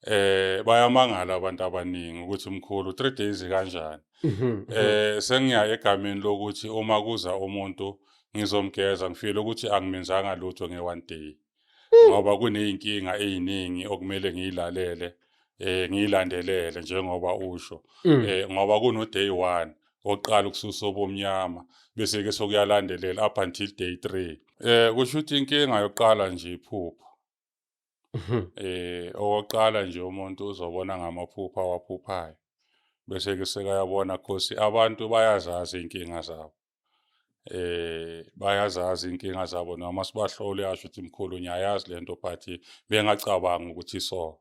eh bayamangala abantu abaningi ukuthi mkhulu 3 days kanjani mhm, mhm. eh sengiya egameni lokuthi uma kuza umuntu ngizomgeza ngifile ukuthi angimenzanga lutho nge one day hmm. ngoba kuneyinkinga eziningi okumele ngiyilalele eh ngiyilandelele njengoba usho hmm. eh ngoba kuno day 1 oqala ukususa obomnyama bese ke sokuyalandelela up until day 3 eh kusho ukuthi inkinga yokuqala nje iphupho mhm. eh owoqala nje umuntu uzobona ngamaphupho awaphuphayo bese ke sekayabona cause abantu bayazazi inkinga zabo eh bayazazi inkinga zabo noma sibahlole yasho ukuthi mkhulu ngiyayazi lento but bengacabanga ukuthi so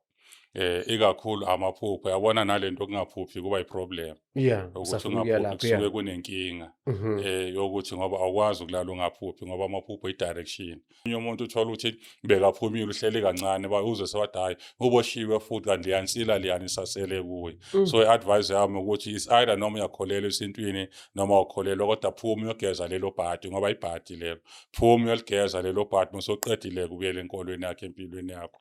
eh ikakhulu amaphupho yabona nalento kungaphuphi kuba iproblem yeah ukuthi ungaphuphi kusuke kunenkinga mhm. eh yokuthi ngoba awukwazi ukulala ungaphuphi ngoba amaphupho idirection omunye umuntu uthola ukuthi bekaphumile uhleli kancane uzwe sewathi hhayi uboshiwe futhi kanti liyansila liyani isasele kuye mm. so i-advise yami ukuthi is either noma uyakholelwa esintwini noma wakholelwa kodwa phuma uyogeza lelo bhadi ngoba ibhadi lelo phuma uyoligeza lelo bhadi musoqedile kubuyela enkolweni yakhe empilweni yakho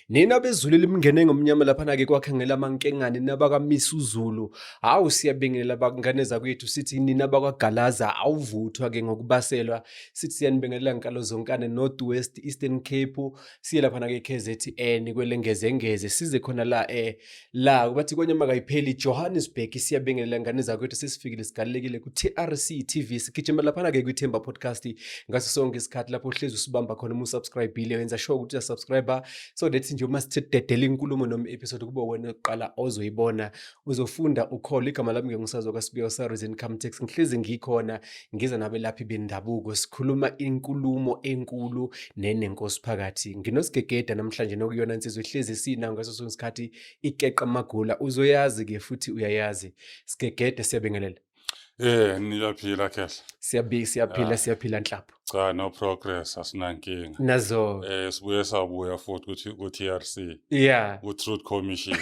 Nina bezulu elimngene ngomnyama laphana-ke kwakhangela amankengane nabakamisa uzulu hawu siyabingelela bakungane zakwethu sithi nina bakwagalaza awuvuthwa-ke ngokubaselwa sithi siyanibingelela nkalo zonkane north west eastern cape siye laphana-ke k z n kwelengezengeze size khona la um la bathi kwenye makayipheli johannesburg siyabingelela ngane zakwethu sesifikile sigalelekile ku-trc tv sigijima laphana-ke kwithemba podcast ngaso sonke isikhathi lapho uhlezi usibamba khona uma usubscribile wenza sure ukuthi uyasubscribe so that nje uma sithededela inkulumo noma i-episode kube wena kuqala ozoyibona uzofunda ukholo igama lami ngengusazo kasibiyo sareason come tax ngihlezi ngikhona ngize nabelaphi bendabuko sikhuluma inkulumo enkulu nenenkosi phakathi nginosigegeda namhlanje nokuyona insizwa ihlezi sina ngaso sonke isikhathi ikeqa amagula uzoyazi ke futhi uyayazi sigegede siyabingelela Eh niyaphila kahle. Siyabi siyaphila siyaphila nhlapho. Cha no progress asinankinga. Nazo. Eh sibuye sabuya futhi ukuthi ku TRC. Yeah. Ku Truth Commission.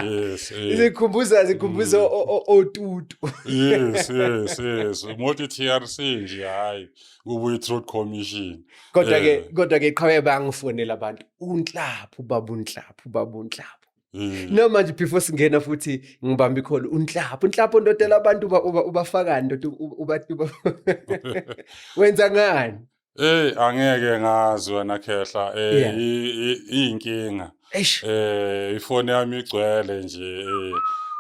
yes, yes. zikhumbuza zikhumbuza mm. otutu yes yes yes moti TRC nje hayi kubuye truth commission kodwa ke eh. kodwa ke qhawe bangifonela abantu unhlaphu babu unhlaphu babu unhlaphu Mm. No manje before singena futhi ngibamba ikholo unhlapho unhlapho ndodela abantu uba ubafakani ndoda uba wenza ngani Hey angeke ngazi wena Khehla eh Yeah. i- i- iyinkinga Eish. eh ifoni yami igcwele nje eh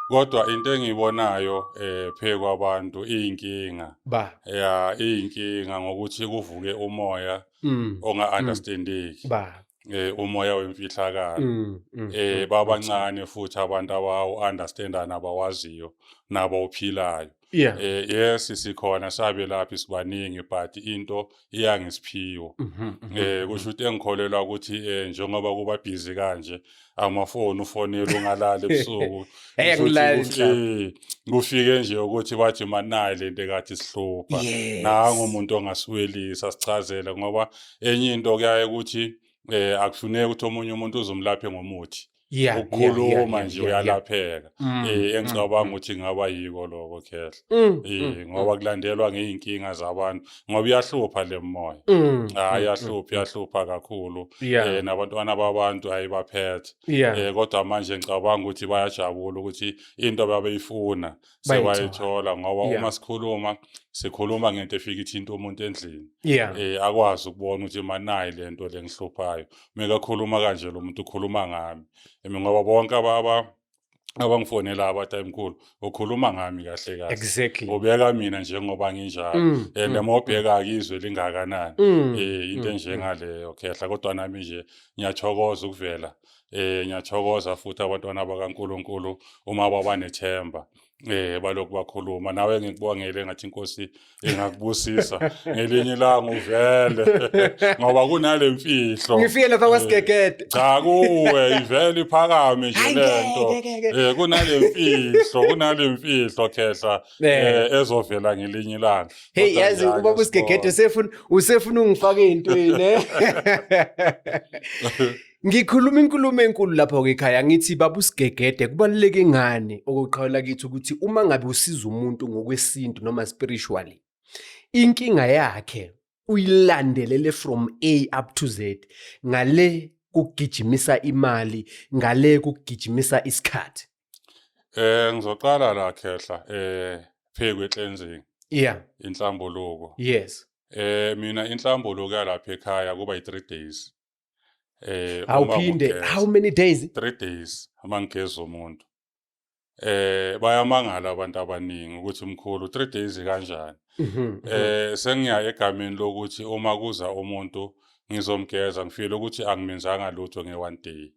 kodwa into engiyibonayo eh phe kwabantu iyinkinga Ba. ya iyinkinga ngokuthi kuvuke umoya Mm. onga understandeki Ba. eh umoya wemfihlakalo Mm. mm, eh mm, babancane futhi abantu abawu understandana abawaziyo nabo ophilayo yeah eh yes sikhona sabe laphi sibaningi but into iyangisiphiwo mhm, mhm, eh kusho ukuthi engikholelwa ukuthi eh njengoba kuba busy kanje amafoni ufonela ungalali ebusuku Eh, Kusho ukuthi angilali kuf- njalo. eh, kufike nje ukuthi bathi manayi lento ekathi sihlupha Yes. nangu umuntu ongasiwelisa sichazele ngoba enye into kuyaye ukuthi eh akufuneki ukuthi omunye umuntu uzomlaphe ngomuthi yeah, ukukhuluma yeah, nje yeah, yeah, uyalapheka mm, eh mm, engicabanga mm. ukuthi ngaba yiko lokho khehla mm, eh mm, ngoba mm. kulandelwa ngeyinkinga zabantu ngoba iyahlupha lemoya mm, hayi ah, mm, yahlupha yahlupha kakhulu yeah. eh nabantwana babantu hayibaphethe yeah. eh kodwa manje ngicabanga ukuthi bayajabula ukuthi into babeyifuna Bayayithola. sewayithola ngoba Yeah. uma sikhuluma sikhuluma ngento efika ithinta umuntu endlini yeah eh akwazi ukubona ukuthi manayi lento lengihluphayo mekakhuluma kanje lo muntu ukhuluma ngami Emi ngoba bonke aba aba- abangifonela abathi ayimkhulu ukhuluma ngami kahle kahle exactly ubeka mina njengoba nginjalo Mm, and mm, uma ubheka izwe lingakanani mm, eh into mm, enjengaleyo khehla kodwa nami nje ngiyathokoza ukuvela eh ngiyathokoza futhi abantwana bakaNkuluNkulu uma babanethemba eh balokhu bakhuluma nawe ngikubongele ngathi inkosi ingakubusisa ngelinye ilanga uvele ngoba kunale mfihlo ngifike lapha kwasigegede eh, cha kuwe ivele iphakame nje lento eh kunale mfihlo kunale mfihlo khehla eh ezovela ngelinye ilanga hey yazi ubaba usigegede usefuna usefuna ungifake into yini eh? Ngikhuluma inkulumo enkulu lapho ke ekhaya ngithi baba usigegede kubaluleke ngani okuqhawula kithi ukuthi uma ngabe usiza umuntu ngokwesintu noma spiritually inkinga yakhe uyilandelele from A up to Z ngale kugijimisa imali ngale kugijimisa isikhathi eh ngizoqala la khehla eh phekwe cleansing yeah inhlambuluko yes eh mina inhlambuluko yalapha ekhaya kuba i3 days eh awuphinde how many days 3 days uma ngigeza umuntu eh bayamangala abantu abaningi ukuthi mkhulu 3 days kanjani mhm, mhm. eh sengiya egameni lokuthi uma kuza umuntu ngizomgeza ngifile ukuthi angimenzanga lutho nge one day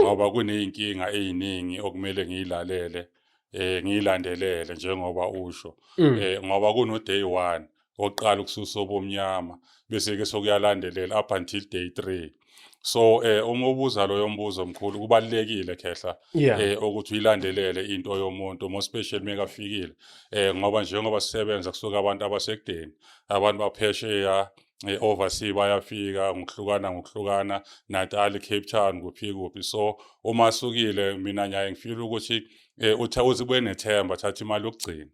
ngoba kuney'nkinga ey'ningi okumele ngiyilalele um ngiyilandelele njengoba usho um ngoba kuno-day one oqala ukususa obomnyama bese-ke sokuyalandelela up until day three so eh uma ubuza loyo mbuzo omkhulu kubalekile khehla eh ukuthi uyilandelele into yomuntu mo special mekafikile eh ngoba njengoba sisebenza kusuka abantu abasekudeni abantu baphesheya e-oversea bayafika ngokuhlukana ngokuhlukana natal cape town kuphi kuphi so uma sukile mina ngiyaye ngifile ukuthi um utha uze kube nethemba thatha imali yokugcina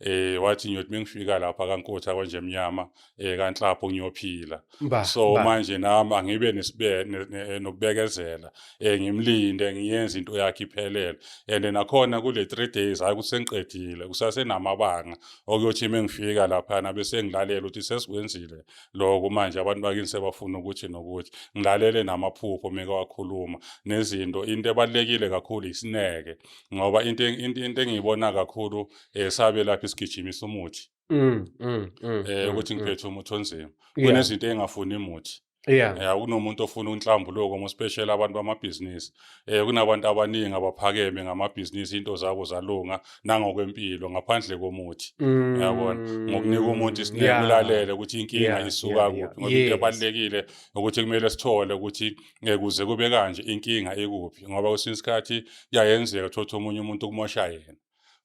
eh wathi ngiyothi mengifika lapha kaNkotha kwanje emnyama eh kanhlapho ngiyophila so manje nami angibe eh, nokubekezela eh ngimlinde ngiyenze into yakhe iphelele and nakhona kule 3 days hayi kusengiqedile kusasenamabanga okuyothi uma ngifika laphana bese ngilalela ukuthi sesikwenzile lokho manje abantu bakini sebafuna ukuthi nokuthi ngilalele namaphupho meke wakhuluma nezinto into ebalulekile kakhulu isineke ngoba into into into engiyibona kakhulu esabe eh, lapha isigijimisa umuthi mm, mm, mm, eh ukuthi ngiphethe umuthi onzima kunezinto engafuni imuthi yeah. yeah kunomuntu ofuna unhlambuluko mospecial abantu bamabhizinisi um kunabantu abaningi abaphakeme ngamabhizinisi into zabo zalunga nangokwempilo ngaphandle komuthi mm. yabona ngokunika umuntu isinekulalele ukuthi inkinga isuka kuphi ngoba into ebalulekile ukuthi kumele sithole ukuthi eh, kuze kube kanje inkinga ikuphi ngoba kwesinye isikhathi kuyayenzeka thothi omunye umuntu kumosha yena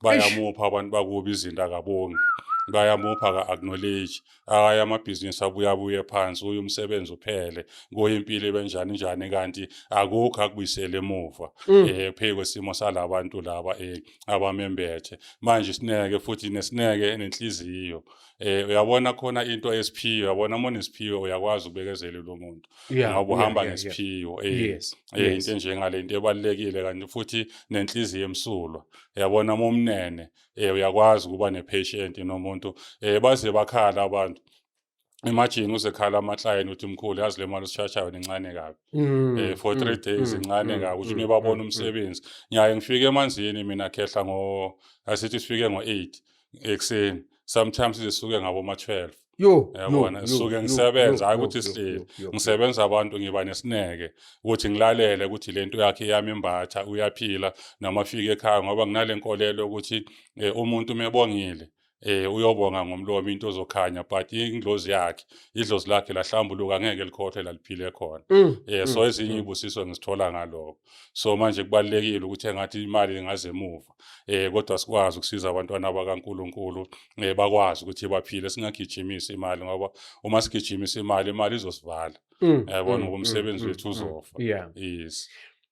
bayamupha abantu bakubi izinto akabongi bayamupha ka-acknowledge aye amabhizinisi abuye abuye phansi uye umsebenzi uphele kuye impilo ibenjani njani kanti akukho akubuyisele emuva um mm. eh, phezu kwesimo sala bantu laba um abamembethe manje isineke futhi nesineke nenhliziyo um uyabona khona into esiphiwe uyabona uma unesiphiwe uyakwazi ukubekezela lo muntu yeah, ngoba uhamba yeah, yeah, ngesiphiwo yeah. eh, yes, eh, yes. into enjengale into ebalulekile kanti futhi nenhliziyo emsulwa yabona momnene eh, uyakwazi ukuba nepatient nomuntu eh, baze bakhala abantu imagine uzekhala amaklayeni uthi mkhulu yazi le mali osishashayo incane kabi mm, eh, for three mm, days mm, incane mm, kabi uthi mm, nibabona mm, umsebenzi ngiyaye ngifike emanzini mina khehla ngo asithi sifike ngo-eight ekuseni sometimes zisuke ngaboma-twelve yo yabona ngisuke ngisebenza hayi ukuthi sihleli ngisebenza abantu ngiba nesineke ukuthi ngilalele ukuthi lento yakhe yami imbatha uyaphila noma afike ekhaya ngoba nginale nkolelo ukuthi eh, umuntu mebongile eh uyobonga ngomlomo into ozokhanya but indlozi yakhe idlozi lakhe lahlambuluka ngeke likhohle laliphile khona mm, eh so mm, ezinye mm. ibusiso ngisithola ngaloko so manje kubalekile ukuthi engathi imali ingaze emuva eh kodwa sikwazi ukusiza abantwana bakaNkuluNkulu eh bakwazi ukuthi baphile singagijimisi imali ngoba uma sigijimisa imali imali izosivala mm, yabona mm, ngoba mm, umsebenzi wethu uzofa yes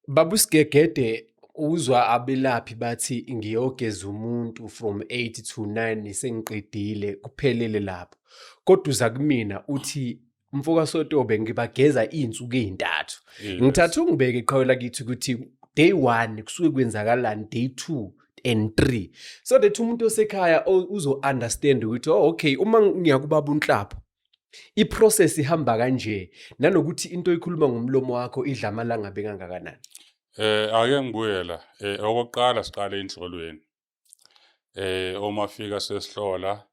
babu sigegede uzwa abelaphi bathi ngiyogeza umuntu from 8 to 9 sengiqedile kuphelele lapho kodwa uza kumina uthi mfoka Sotobe ngibageza izinsuku ezintathu ngithatha ungibeke iqhawe lakithi ukuthi day 1 kusuke kwenzakalani day 2 and 3 so that umuntu osekhaya uzo understand ukuthi oh okay uma ngiyakubaba unhlapho iprocess ihamba kanje nanokuthi into oyikhuluma ngomlomo wakho idla amalanga bekangakanani eh ake ngibuyela eh okokuqala siqale enhlolweni eh uma fika sesihlola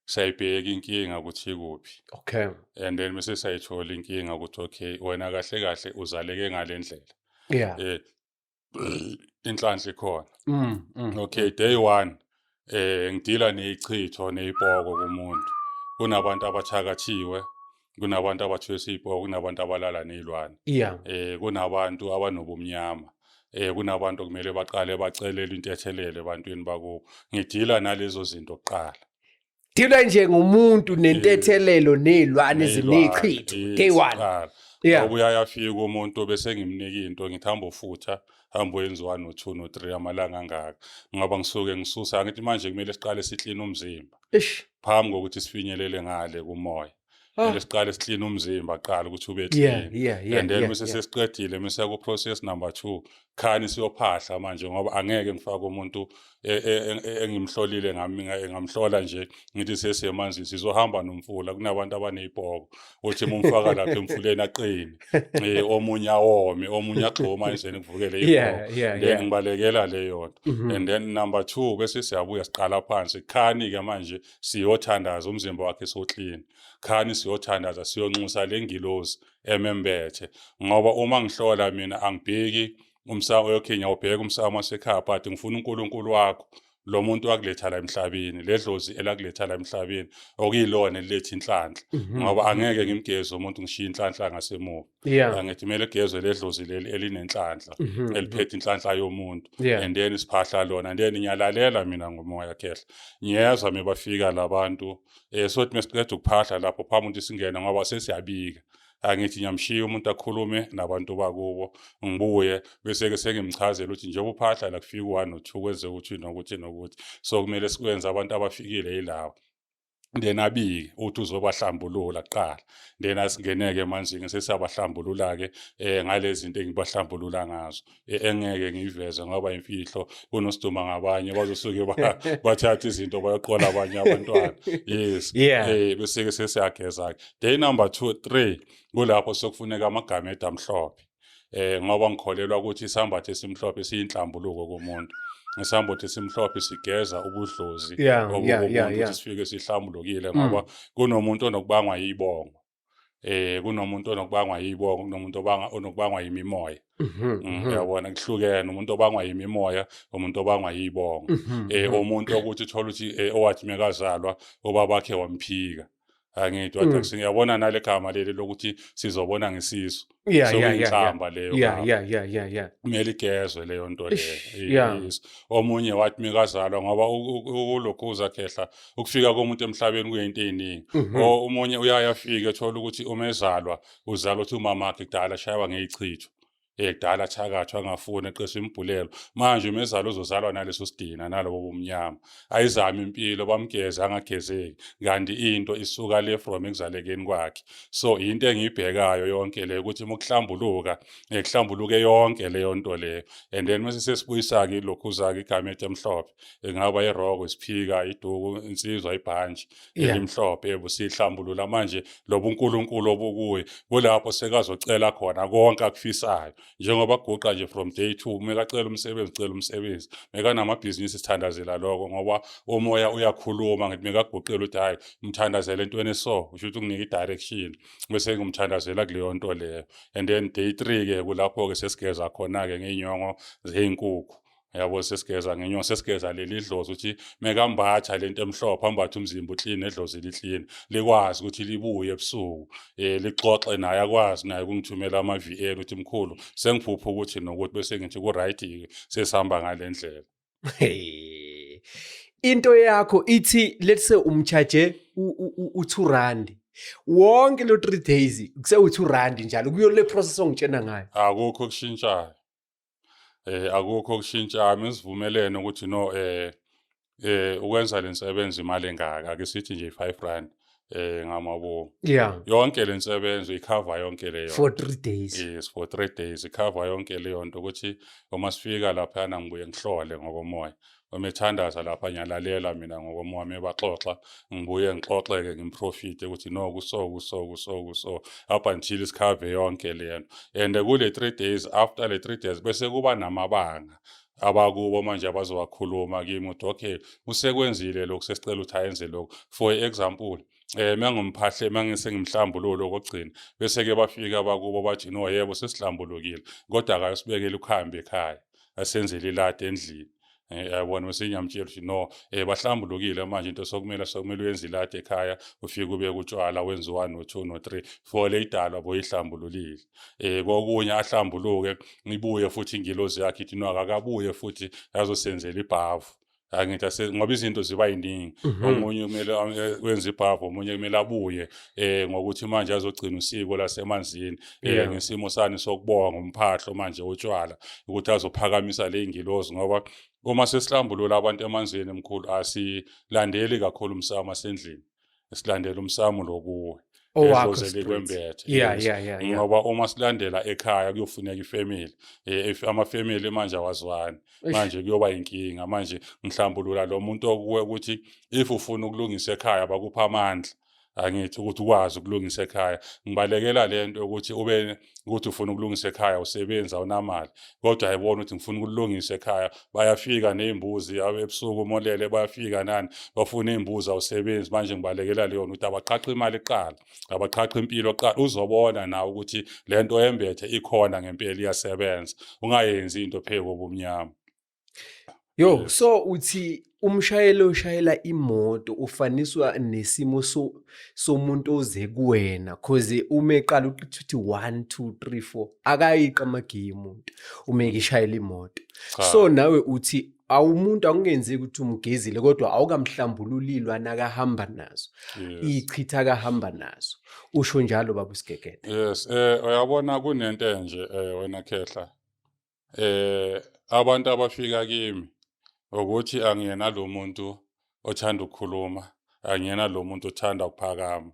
sayibheka inkinga ukuthi ikuphi okay and then mase sayithola inkinga ukuthi okay wena kahle kahle uzaleke ngalendlela yeah eh inhlanhla ikhona mm, mm. okay day 1 eh ngidila nezichitho nezipoko kumuntu kunabantu abathakathiwe kunabantu abathwesa iy'poka kunabantu abalala ney'lwane yeah. um kunabantu abanobumnyama eh kunabantu kumele baqale bacelele intethelele ebantwini bakubo ngidila nalezo zinto kuqala dila nje ngomuntu nentethelelo nezilwane ezinechitho day one yeah ubuyayafika umuntu bese ngimnika into ngithi hamba ufutha hamba uyenziwa no 2 no 3 amalanga angaka ngoba ngisuke ngisusa ngithi manje kumele siqale siklina umzimba ish phambi kokuthi sifinyelele ngale kumoya ah. and siqale siklina umzimba qala ukuthi ube clean and then mase sesiqedile mase ku process number 2 khani siyophahla manje ngoba angeke ngifake umuntu e, e, e, engimhlolile ngami ngamhlola nje ngithi sesemanzi sizohamba nomfula kunabantu abanezibhoko uthi mumfaka lapha emfuleni aqine eh omunye awome omunye agxoma endleni kuvukele yeah, yeah, then yeah. ngibalekela leyo nto mm -hmm. and then number 2 bese siyabuya siqala phansi khani ke manje siyothandaza umzimba wakhe so clean khani siyothandaza siyonxusa lengilozi emembethe ngoba uma ngihlola mina angibheki umsamo okay ngiyawubheka umsamo wasekhaya but ngifuna uNkulunkulu wakho lo muntu wakuletha la emhlabeni ledlozi elakuletha la emhlabeni okuyilona eliletha inhlanhla mhm. ngoba angeke ngimgeze umuntu ngishiye inhlanhla ngasemuva angithi kumele kugezwe ledlozi leli elinenhlanhla mhm. eliphethe inhlanhla yomuntu and then isiphahla lona and then ngiyalalela mina ngomoya khehla ngiyezwa mebafika labantu eh sothi mesiqeda ukuphahla lapho phambi ukuthi singena ngoba sesiyabika angithi ngiyamshiya umuntu akhulume nabantu bakubo ngibuye bese-ke sengimchazela ukuthi njengoba uphahla la kufika u-one no-two kwenze ukuthi nokuthi nokuthi so kumele sikwenze abantu abafikile yilawa then abike uthi uzobahlambulula kuqala then asingeneke emanzini sesiyabahlambulula-ke um ngalezinto engibahlambulula ngazo e-, engeke ngiyiveze ngoba imfihlo kunosiduma ngabanye bazosuke bathatha izinto bayoqola abanye abantwana yes yeah. eh bese ke sesiyageza ke day number 2 3 kulapho sokufuneka amagama edamhlophe eh ngoba ngikholelwa ukuthi isambatho esimhlophe siyinhlambuluko kumuntu ngesambotho esimhlophe sigeza ubudlozi obukumuntu sifike sihlambulukile ngoba mm. kunomuntu onokubangwa yibongo eh kunomuntu onokubangwa yibongo kunomuntu obanga onokubangwa yimimoya mhm, mm, mhm. uyabona kuhlukene umuntu obangwa yimimoya umuntu obangwa yibongo mhm, eh umuntu ukuthi uthola ukuthi eh, owathi mekazalwa obabakhe wamphika angithi wathi mm. singiyabona nale gama leli lokuthi sizobona ngesisu yeah, so yeah, yeah, yeah. leyo yeah, yeah, yeah, yeah, yeah. kumele igezwe leyo nto leyo omunye wathi mikazalwa ngoba ukulokhuza khehla ukufika komuntu emhlabeni kuyinto eyiningi mhm. o umunye uyaya afike ethola ukuthi uma ezalwa uzalwa ukuthi umama akhe kudala shayiwa ngeyichitho ekudala eh, thakathwa angafuni eqesha imibhulelo manje uma ezalwa uzozalwa naleso sidina nalobo bomnyama ayizama impilo bamgeza angagezeki kanti into isuka le from ekuzalekeni kwakhe so into engiyibhekayo yonke le ukuthi mukuhlambuluka ngekuhlambuluke yonke leyo nto leyo and then mase sesibuyisa-ke ilokhuzake igamethi emhlophe engaba iroko isiphika iduku insizwa ibhantshi elimhlophe ebusihlambulula manje lobunkulunkulu obukuye kulapho sekazocela khona konke akufisayo njengoba guqa nje from day two mekacela umsebenzi cela umsebenzi mekanamabhizinisi sithandazela lokho ngoba umoya uyakhuluma ngithi mekaguqela ukuthi hhayi umthandazela entweni eso usho ukuthi unginike i-direction bese ngimthandazela kuleyo nto leyo and then day three-ke kulapho-ke sesigeza khona-ke ngey'nyongo zey'nkukhu yabo sesigeza ngenyongo sesigeza leli dlozi ukuthi mekambatha lento emhlophe ambathe umzimba uclean edlozi liclean likwazi ukuthi libuye ebusuku eh lixoxe naye akwazi naye kungithumela ama VL ukuthi mkhulu sengiphupha ukuthi nokuthi bese ngithi ku right sesihamba ngalendlela into yakho ithi let's say umcharge u 2 rand wonke lo 3 days kuse u 2 rand njalo kuyo le process ongitshena ngayo akukho kushintshayo eh akukho okushintsha mesivumelene ukuthi no eh eh ukwenza lensebenzi imali engaka ake sithi nje 5 rand eh ngamabo yeah yonke lensebenzo ikhava yonke leyo for 3 days yes for 3 days ikhava yonke leyo nto ukuthi uma sifika lapha na ngibuye ngihlole ngokomoya omethandaza lapha ngiyalalela mina ngokomo wami ebaxoxa ngibuye ngixoxeke ngimprofite ukuthi no kuso kuso kuso kuso up until isikhave yonke lento and kule three days after le three days bese kuba namabanga abakubo manje abazowakhuluma kimi ukuthi okay usekwenzile lokhu sesicela ukuthi ayenze lokhu for example eh mangomphahla mangise ngimhlambululo kokugcina bese ke bafika bakubo bathi no yebo sesihlambulukile kodwa akayosibekela ukuhamba ekhaya asenzele iladi endlini eh, yabona bese ngiyamtshela ukuthi no eh bahlambulukile manje into sokumele sokumele uyenze iladi ekhaya ufike ube kutshwala wenze 1 no 2 no 3 for le idalwa boyihlambululile eh kokunye ahlambuluke ngibuye futhi ingilozi yakhe ithi no akakabuye futhi yazosenzela ibhavu angithi ase ngoba izinto ziba yiningi mhm. omunye kumele eh, wenze ibhavu omunye kumele abuye eh ngokuthi manje azogcina usiko lasemanzini eh ngesimo sani sokubonga umphahlo manje utshwala ukuthi azophakamisa le ngilozi ngoba uma sesihlambulula abantu emanzini emkhulu asilandeli kakhulu umsamo asendlini silandela umsamo lokuwe ngoba uma silandela ekhaya kuyofuneka ifamily eh, amafamily manje awazwani manje kuyoba inkinga manje ngihlambulula lo muntu okuwe ukuthi if ufuna ukulungisa ekhaya bakupha amandla angithi ukuthi ukwazi ukulungisa ekhaya ngibalekela lento ukuthi ube ukuthi ufuna ukulungisa ekhaya usebenzi awunamali kodwa ayibona ukuthi ngifuna ukulungisa ekhaya bayafika nezimbuzi ebusuku umolele bayafika nani bafuna izimbuzi awusebenzi manje ngibalekela leyona ukuthi abaqhaqhe imali kuqala abaqhaqhe impilo kuqala uzobona nawe ukuthi lento embethe ikhona ngempela iyasebenza ungayenzi into phezu kobumnyama Yo, so uthi umshayeli oshayela imoto ufaniswa nesimo so somuntu oze kuwena cause uma eqala ukuthi 1 2 3 4 akayiqa amagiyi umuntu uma ekishayela imoto. So nawe uthi awumuntu akungenzeki ukuthi umgezile kodwa awukamhlambululilwe anakahamba nazo ichitha akahamba nazo usho njalo baba usigegede yes eh uyabona kunento enje eh wena khehla eh abantu abafika kimi ukuthi angiyena lo muntu othanda ukukhuluma angiyena lo muntu othanda ukuphakama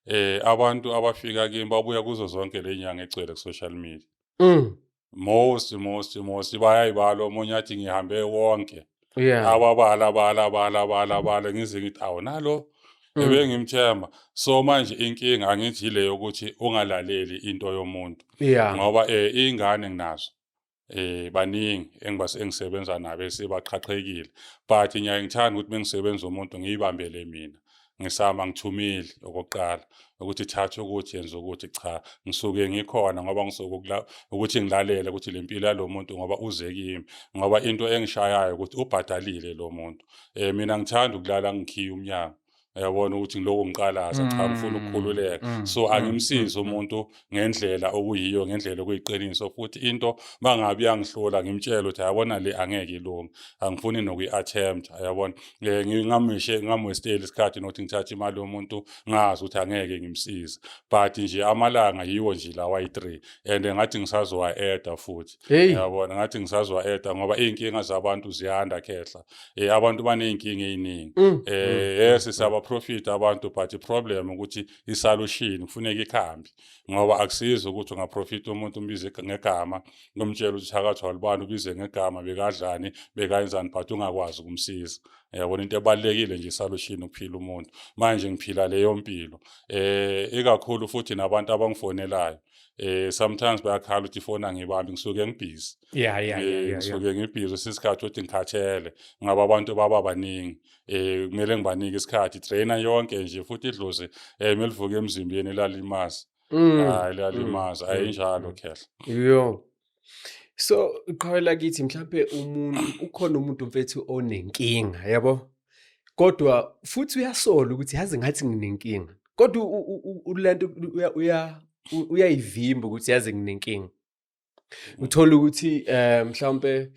eh abantu abafika kimi babuya kuzo zonke le nyanga egcwele ku-social media mm. most most most bayayibala omunye athi ngihambe wonke yeah. awabala bala bala bala bala ngize ngithi awu nalo mm. ebengimthemba so manje inkinga angithi yile yokuthi ungalaleli into yomuntu yeah. ngoba eh ingane nginazo eh baningi engibase engisebenza nabo esibaqhaqhekile but ngiyaye ngithanda ukuthi mengisebenza umuntu ngiyibambele mina ngisama ngithumile okokuqala ukuthi thatha ukuthi yenza ukuthi cha ngisuke ngikhona ngoba ngisuke ukuthi ngilalele ukuthi le mpilo yalo muntu ngoba uze kimi ngoba into engishayayo ukuthi ubhadalile lo muntu um mina ngithanda ukulala ngikhiye umnyango yabona ukuthi ngiloko ngiqalaza cha ngifuna mm, ukukhululeka mm, so mm, angimsizi umuntu ngendlela okuyiyo ngendlela okuyiqiniso futhi into bangabi yangihlola ngimtshela ukuthi ayabona le angeke ilunge angifuni nokuyi-attempt ayabona um eh, ngingameshe ngingamwesteli isikhathi nokuthi ngithathe imali yomuntu ngazi ukuthi angeke ngimsize but nje amalanga yiwo nje lawa yi-three and ngathi ngisazowa-eda futhi yabona ngathi ngisazowa-eda ngoba iy'nkinga zabantu ziyanda khehla um abantu baney'nkinga ey'ningi um mm, mm, eh, yes mm, siyabaprofitha abantu but iproblem ukuthi isalushini kufuneka ikhambi ngoba akusizi ukuthi ungaprofitha umuntu umbize ngegama umtshela ukuthi thakathi walubani ubize ngegama bekadlani bekayenzani but ungakwazi ukumsiza yabona into ebalulekile nje isalushini ukuphila umuntu manje ngiphila leyo mpilo eh ikakhulu futhi nabantu abangifonelayo eh sometimes bayakhala ukuthi ifoni angibambi ngisuke ngibhizi yeah yeah eh, yeah ngisuke ngibhizi sisikhathi ukuthi ngikhathele ngaba abantu baba baningi eh kumele ngibanike isikhathi trainer yonke nje futhi idlozi eh melivuka emzimbeni lalimazi mm. hayi lalimazi mm. ayinjalo mm. khehla yo so qhawela kithi mhlawumbe umuntu ukhona umuntu mfethu onenkinga yabo kodwa futhi uyasola ukuthi yazi ngathi nginenkinga kodwa ulento uya uyayivimba ukuthi yazi nginenkinga uthola ukuthi eh mhlawumbe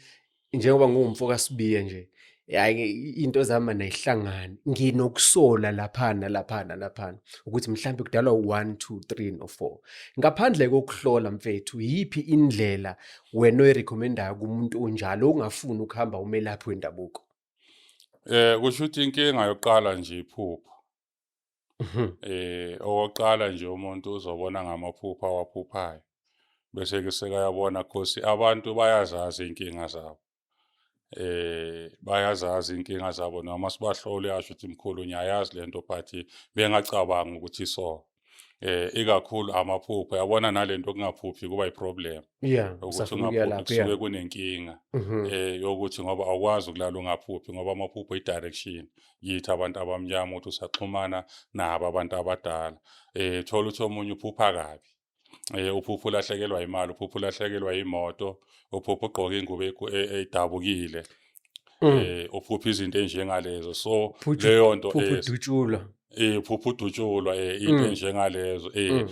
njengoba ngumfo kaSibiya nje yaye into zama nayihlangani nginokusola laphana laphana laphana ukuthi mhlawumbe kudalwa u1 2 3 no 4 ngaphandle kokuhlola mfethu yipi indlela wena oyirecommendayo kumuntu onjalo ongafuni ukuhamba umelaphi wendabuko eh kusho ukuthi inkinga yokuqala nje iphupho Mhm. Eh okokuqala nje umuntu uzobona ngamaphupha awaphuphayo. Bese ke sekayabona khosi abantu bayazazi inkinga zabo. Eh bayazazi inkinga zabo noma sibahlole asho ukuthi mkhulu ngiyayazi lento but bengacabangi ukuthi so. eh ikakhulu amaphupho yabona nalento kungaphuphi kuba iproblem yeah ukuthi ungaphuphi kusuke kunenkinga mhm. eh yokuthi ngoba awukwazi ukulala ungaphuphi ngoba amaphupho idirection yithi abantu abamnyama ukuthi usaxhumana nabo abantu abadala eh thola ukuthi omunye uphupha kabi eh uphupha ulahlekelwa imali uphupha ulahlekelwa imoto uphupha ugqoka ingubo e, e, edabukile mm. eh uphupha izinto enjengalezo so leyo nto udutshulwa eh, eh uphupha udutshulwa eh into mm. enjengalezo eh mm.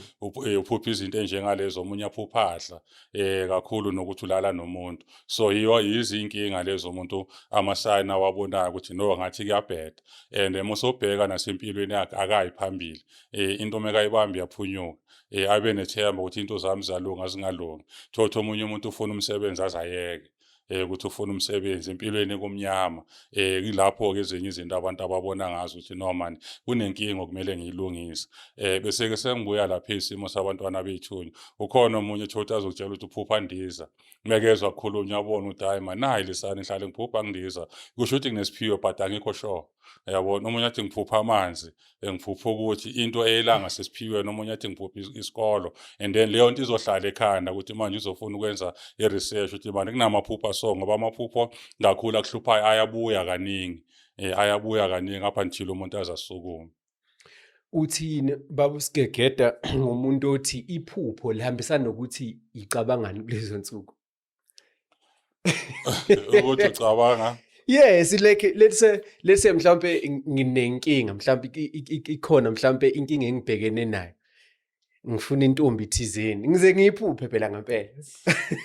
eh uphupha izinto enjengalezo omunye aphuphahla eh kakhulu nokuthi ulala nomuntu so yiyo yizinkinga lezo umuntu amasayina wabonayo ukuthi no ngathi kuyabheda and emusobheka nasempilweni yakhe akayi phambili eh into mekayibambi yaphunyuka eh abe nethemba ukuthi into zami zalunga zingalungi thotho omunye umuntu ufuna umsebenzi azayeke eh ukuthi ufuna umsebenzi empilweni ekumnyama eh kulapho ke ezinye izinto abantu ababona ngazo ukuthi no man kunenkinga okumele ngiyilungise eh bese ke sengibuya lapha isimo sabantwana bethunywa ukhona omunye thothi azokutshela ukuthi uphupha ndiza mekezwa kukhulunywa yabona ukuthi hayi manayi lisani ngihlale ngiphupha ngidiza kusho ukuthi nginesiphiwo but angikho sure yabona omunye athi ngiphupha amanzi engiphupha ukuthi into eyelanga sesiphiwe noma omunye athi ngiphupha isikolo and then leyo nto izohlala ekhanda ukuthi manje uzofuna ukwenza i-research ukuthi manje kunamaphupha so ngoba amaphupho kakhulu akuhluphayo ayabuya kaningi um ayabuya kaningi up until umuntu aze asukume uthini baba usigegeda ngomuntu othi iphupho lihambisana nokuthi icabangani kulezo nsuku ukuthi ucabanga yes like let's say let's say mhlambe nginenkinga mhlambe ikhona mhlambe inkinga engibhekene nayo ngifuna intombi thizeni ngize ngiyiphuphe phela ngempela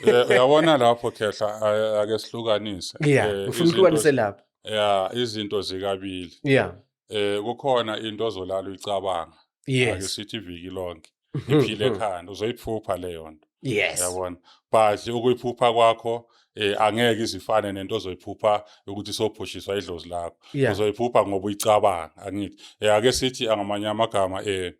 eh, uyabona lapho khehla ake sihlukanise yeah eh, ngifuna uhlukanise lapho yeah izinto zikabili yeah eh kukhona into ozolala uyicabanga yes ake sithi iviki lonke iphile ekhanda uzoyiphupha leyo nto yes yabona but ukuyiphupha kwakho eh angeke izifane nento ozoyiphupha ukuthi sophushiswa idlozi lakho uzoyiphupha ngoba uyicabanga angithi eh ake sithi angamanye amagama eh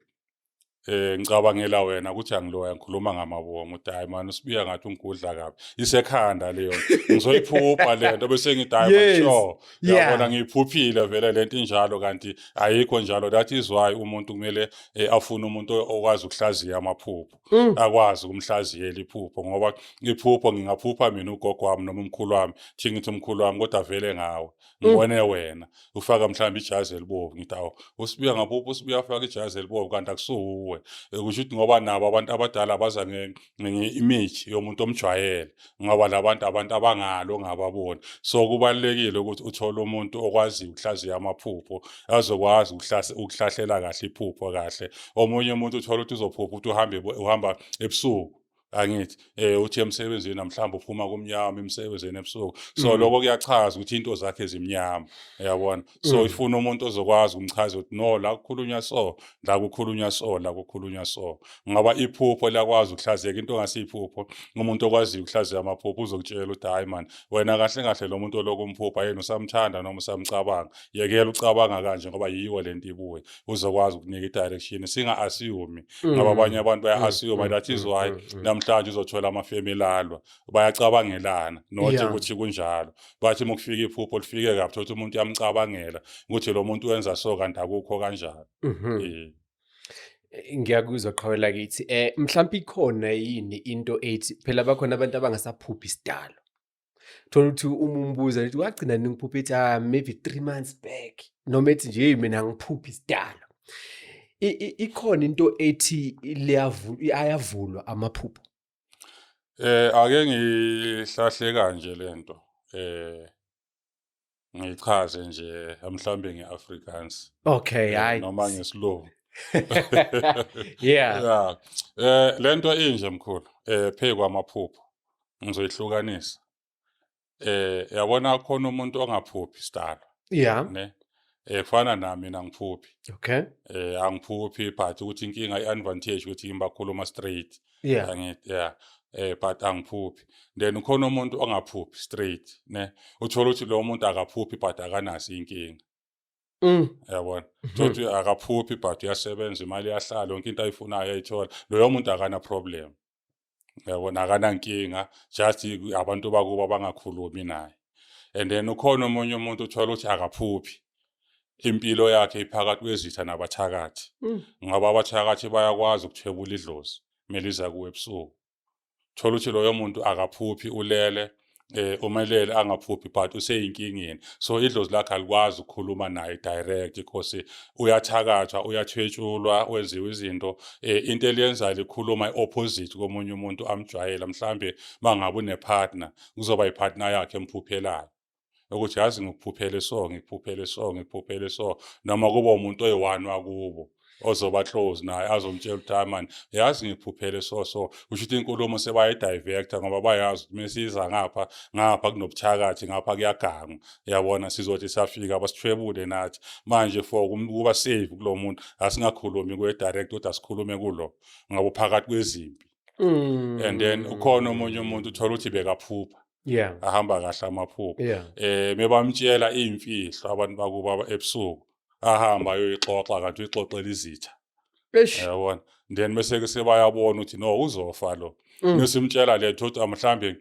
Eh ngicabangela wena ukuthi angiloya ngikhuluma ngamabongo ukuthi hayi mani usibiya ngathi ungigudla kabi isekhanda leyo ngizoyiphupha le nto bese ngithi hayi Yes. sure Yeah. yabona ngiyiphuphile vele le nto injalo kanti ayikho njalo that is why umuntu kumele eh, afune umuntu okwazi ukuhlaziya amaphupho Mm. akwazi ukumhlaziyela iphupho ngoba iphupho ngingaphupha mina ugogo wami noma umkhulu wami thi ngithi umkhulu wami kodwa vele ngawe Mm. ngibone wena ufaka mhlawumbe ijazi elibovu ngithi awu usibuya ngapuphi usibuya afaka ijazi elibovu kanti akusuwe Eh, kusho ukuthi ngoba nabo abantu abadala baza nge- ngenye image yomuntu omjwayele ngoba labantu abantu abangalo ngababoni so kubalulekile ukuthi uthole umuntu okwaziyo ukuhlaziya amaphupho azokwazi ukuhlase- ukuhlahlela kahle iphupho kahle omunye umuntu uthola ukuthi uzophupha ukuthi uhambe ebo- uhamba ebusuku angithi eh uthi emsebenzini namhlanje uphuma kumnyama emsebenzini ebusuku so mm. lokho kuyachaza ukuthi into zakhe zimnyama uyabona so mm. ifuna umuntu ozokwazi umchaza ukuthi no la kukhulunywa so la kukhulunywa so la kukhulunywa so ngaba iphupho lakwazi ukuhlazeka into ngasiphupho umuntu okwazi ukuhlazeka amaphupho uzokutshela ukuthi hayi man wena kahle kahle lo muntu olokumphupha yena usamthanda noma usamcabanga yekela ucabanga kanje ngoba yiyo lento ibuye uzokwazi ukunika i-direction singa-asiyumi mm. ngoba abanye abantu baya-asiyuma mm. that is mm. why namhlanje uzothola amafemu elalwa bayacabangelana nothi ukuthi kunjalo bathi uma kufika iphupho lifike kabi thothi umuntu uyamcabangela ukuthi lo muntu wenza so kanti akukho kanjalo mm-hmm. ngiyakuzwa qhawela kithi um mhlawumpe ikhona yini into ethi phela bakhona abantu abangasaphuphi isidalo thola ukuthi uma umbuza lithi wagcina ningiphupha ethi ah maybe three months back noma ethi nje hey mina ngiphupha isidala ikhona into ethi ayavulwa amaphupho eh ake ngihlahle kanje lento eh ngichaze nje mhlawumbe ngeAfrikaans okay eh, hayi noma ngesilungu yeah yeah eh lento inje mkhulu eh pheku amaphupho ngizoyihlukanisa eh yabona khona umuntu ongaphuphi sidalo yeah ne eh kufana nami mina ngiphuphi okay eh angiphuphi but ukuthi inkinga iadvantage ukuthi ngibakhuluma straight yeah angithi yeah eh but angiphuphi then ukhona umuntu ongaphuphi straight ne uthola ukuthi lo muntu akaphuphi but akanasi inkinga Mm. Yabona. Mhm. Thothi akaphuphi but uyasebenza imali yahlala yonke into ayifunayo ayithola. Loyo muntu akana problem. yabona akanankinga just abantu bakubo abangakhulumi naye and then ukhona omunye umuntu uthola ukuthi akaphuphi impilo yakhe iphakathi kwezitha nabathakathi mm. ngoba abathakathi bayakwazi ukuthwebula idlozi meliza kuwe ebusuku thola ukuthi loyo muntu akaphuphi ulele eh umelele angaphuphi but useyinkingeni so idlozi lakhe alikwazi ukukhuluma naye direct because uyathakathwa uyathwetshulwa wenziwa izinto eh into eliyenzayo likhuluma iopposite komunye umuntu amjwayela mhlambe mangabe unepartner kuzoba ipartner yakhe emphuphelayo ukuthi yazi ngikuphuphele so ngikuphuphele so ngikuphuphele so noma kuba umuntu oyi-one wakubo ozoba close naye azomtshela ukuthi hayi mani yazi ngiphuphele so so kusho ukuthi inkulumo sebayidivecta ngoba bayazi ukuthi mesiyiza ngapha ngapha kunobuthakathi ngapha kuyagangwa yabona sizothi safika basithwebule nathi manje for ukuba save kulo muntu asingakhulumi kwe-direct ukuthi asikhulume kulo ngabo phakathi kwezimpi mm. and then ukhona omunye umuntu uthola ukuthi bekaphupha yeah ahamba kahle amaphupho yeah. eh mebamtshela imfihlo abantu bakuba ebusuku ahamba ayoyixoxa kanti uyixoxela izitha eish yabona then mase ke sebayabona ukuthi no uzofa lo mm. mesimtshela letho ukuthi amhlambe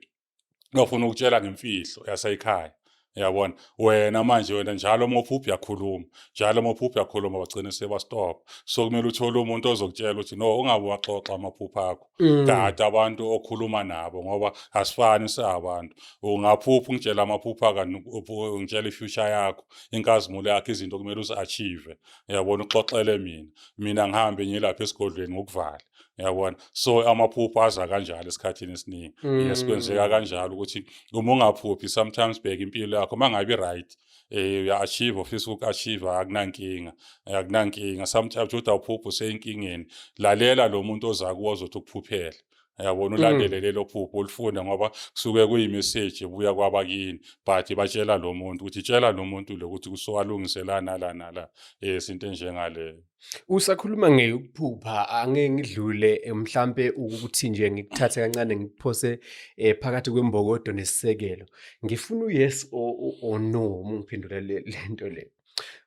ngafuna ukutshela ngemfihlo yasekhaya yabona wena manje wena njalo uma uphupha uyakhuluma njalo uma uphupha uyakhuluma bagcine sebastop so kumele uthole umuntu ozokutshela ukuthi no ungabe waxoxa amaphupha akho mm. kade abantu okhuluma nabo ngoba asifani siabantu ungaphupha ungitshela amaphupha kanti ungitshela ifuture yakho inkazimulo yakho izinto kumele uzi-achieve yabona uxoxele mina mina ngihambe ngilapha esigodlweni ngokuvala yabona so amaphupho aza kanjalo esikhathini esiningi mm. yes kwenzeka kanjalo ukuthi uma ungaphuphi sometimes bheka impilo yakho uma ngabi right eh uya-achieve ofisa uku-achieve akunankinga akunankinga sometimes uthi awuphuphi useyinkingeni lalela lo muntu oza kuwo ozothi ukuphuphela yabona mm. ulandele lelo phupho ulifunde ngoba kusuke kuyimeseji ebuya kwabakini but batshela lo muntu ukuthi tshela lo muntu lo ukuthi kusuwalungiselana la nala um eh, isinto enjengaleyo Usakhuluma ngeyokuphupha angeke ngidlule eh, mhlampe ukuthi nje ngikuthathe kancane ngikuphose eh, phakathi kwembokodo nesisekelo. Ngifuna u-yes or or no uma ungiphendula le le nto le.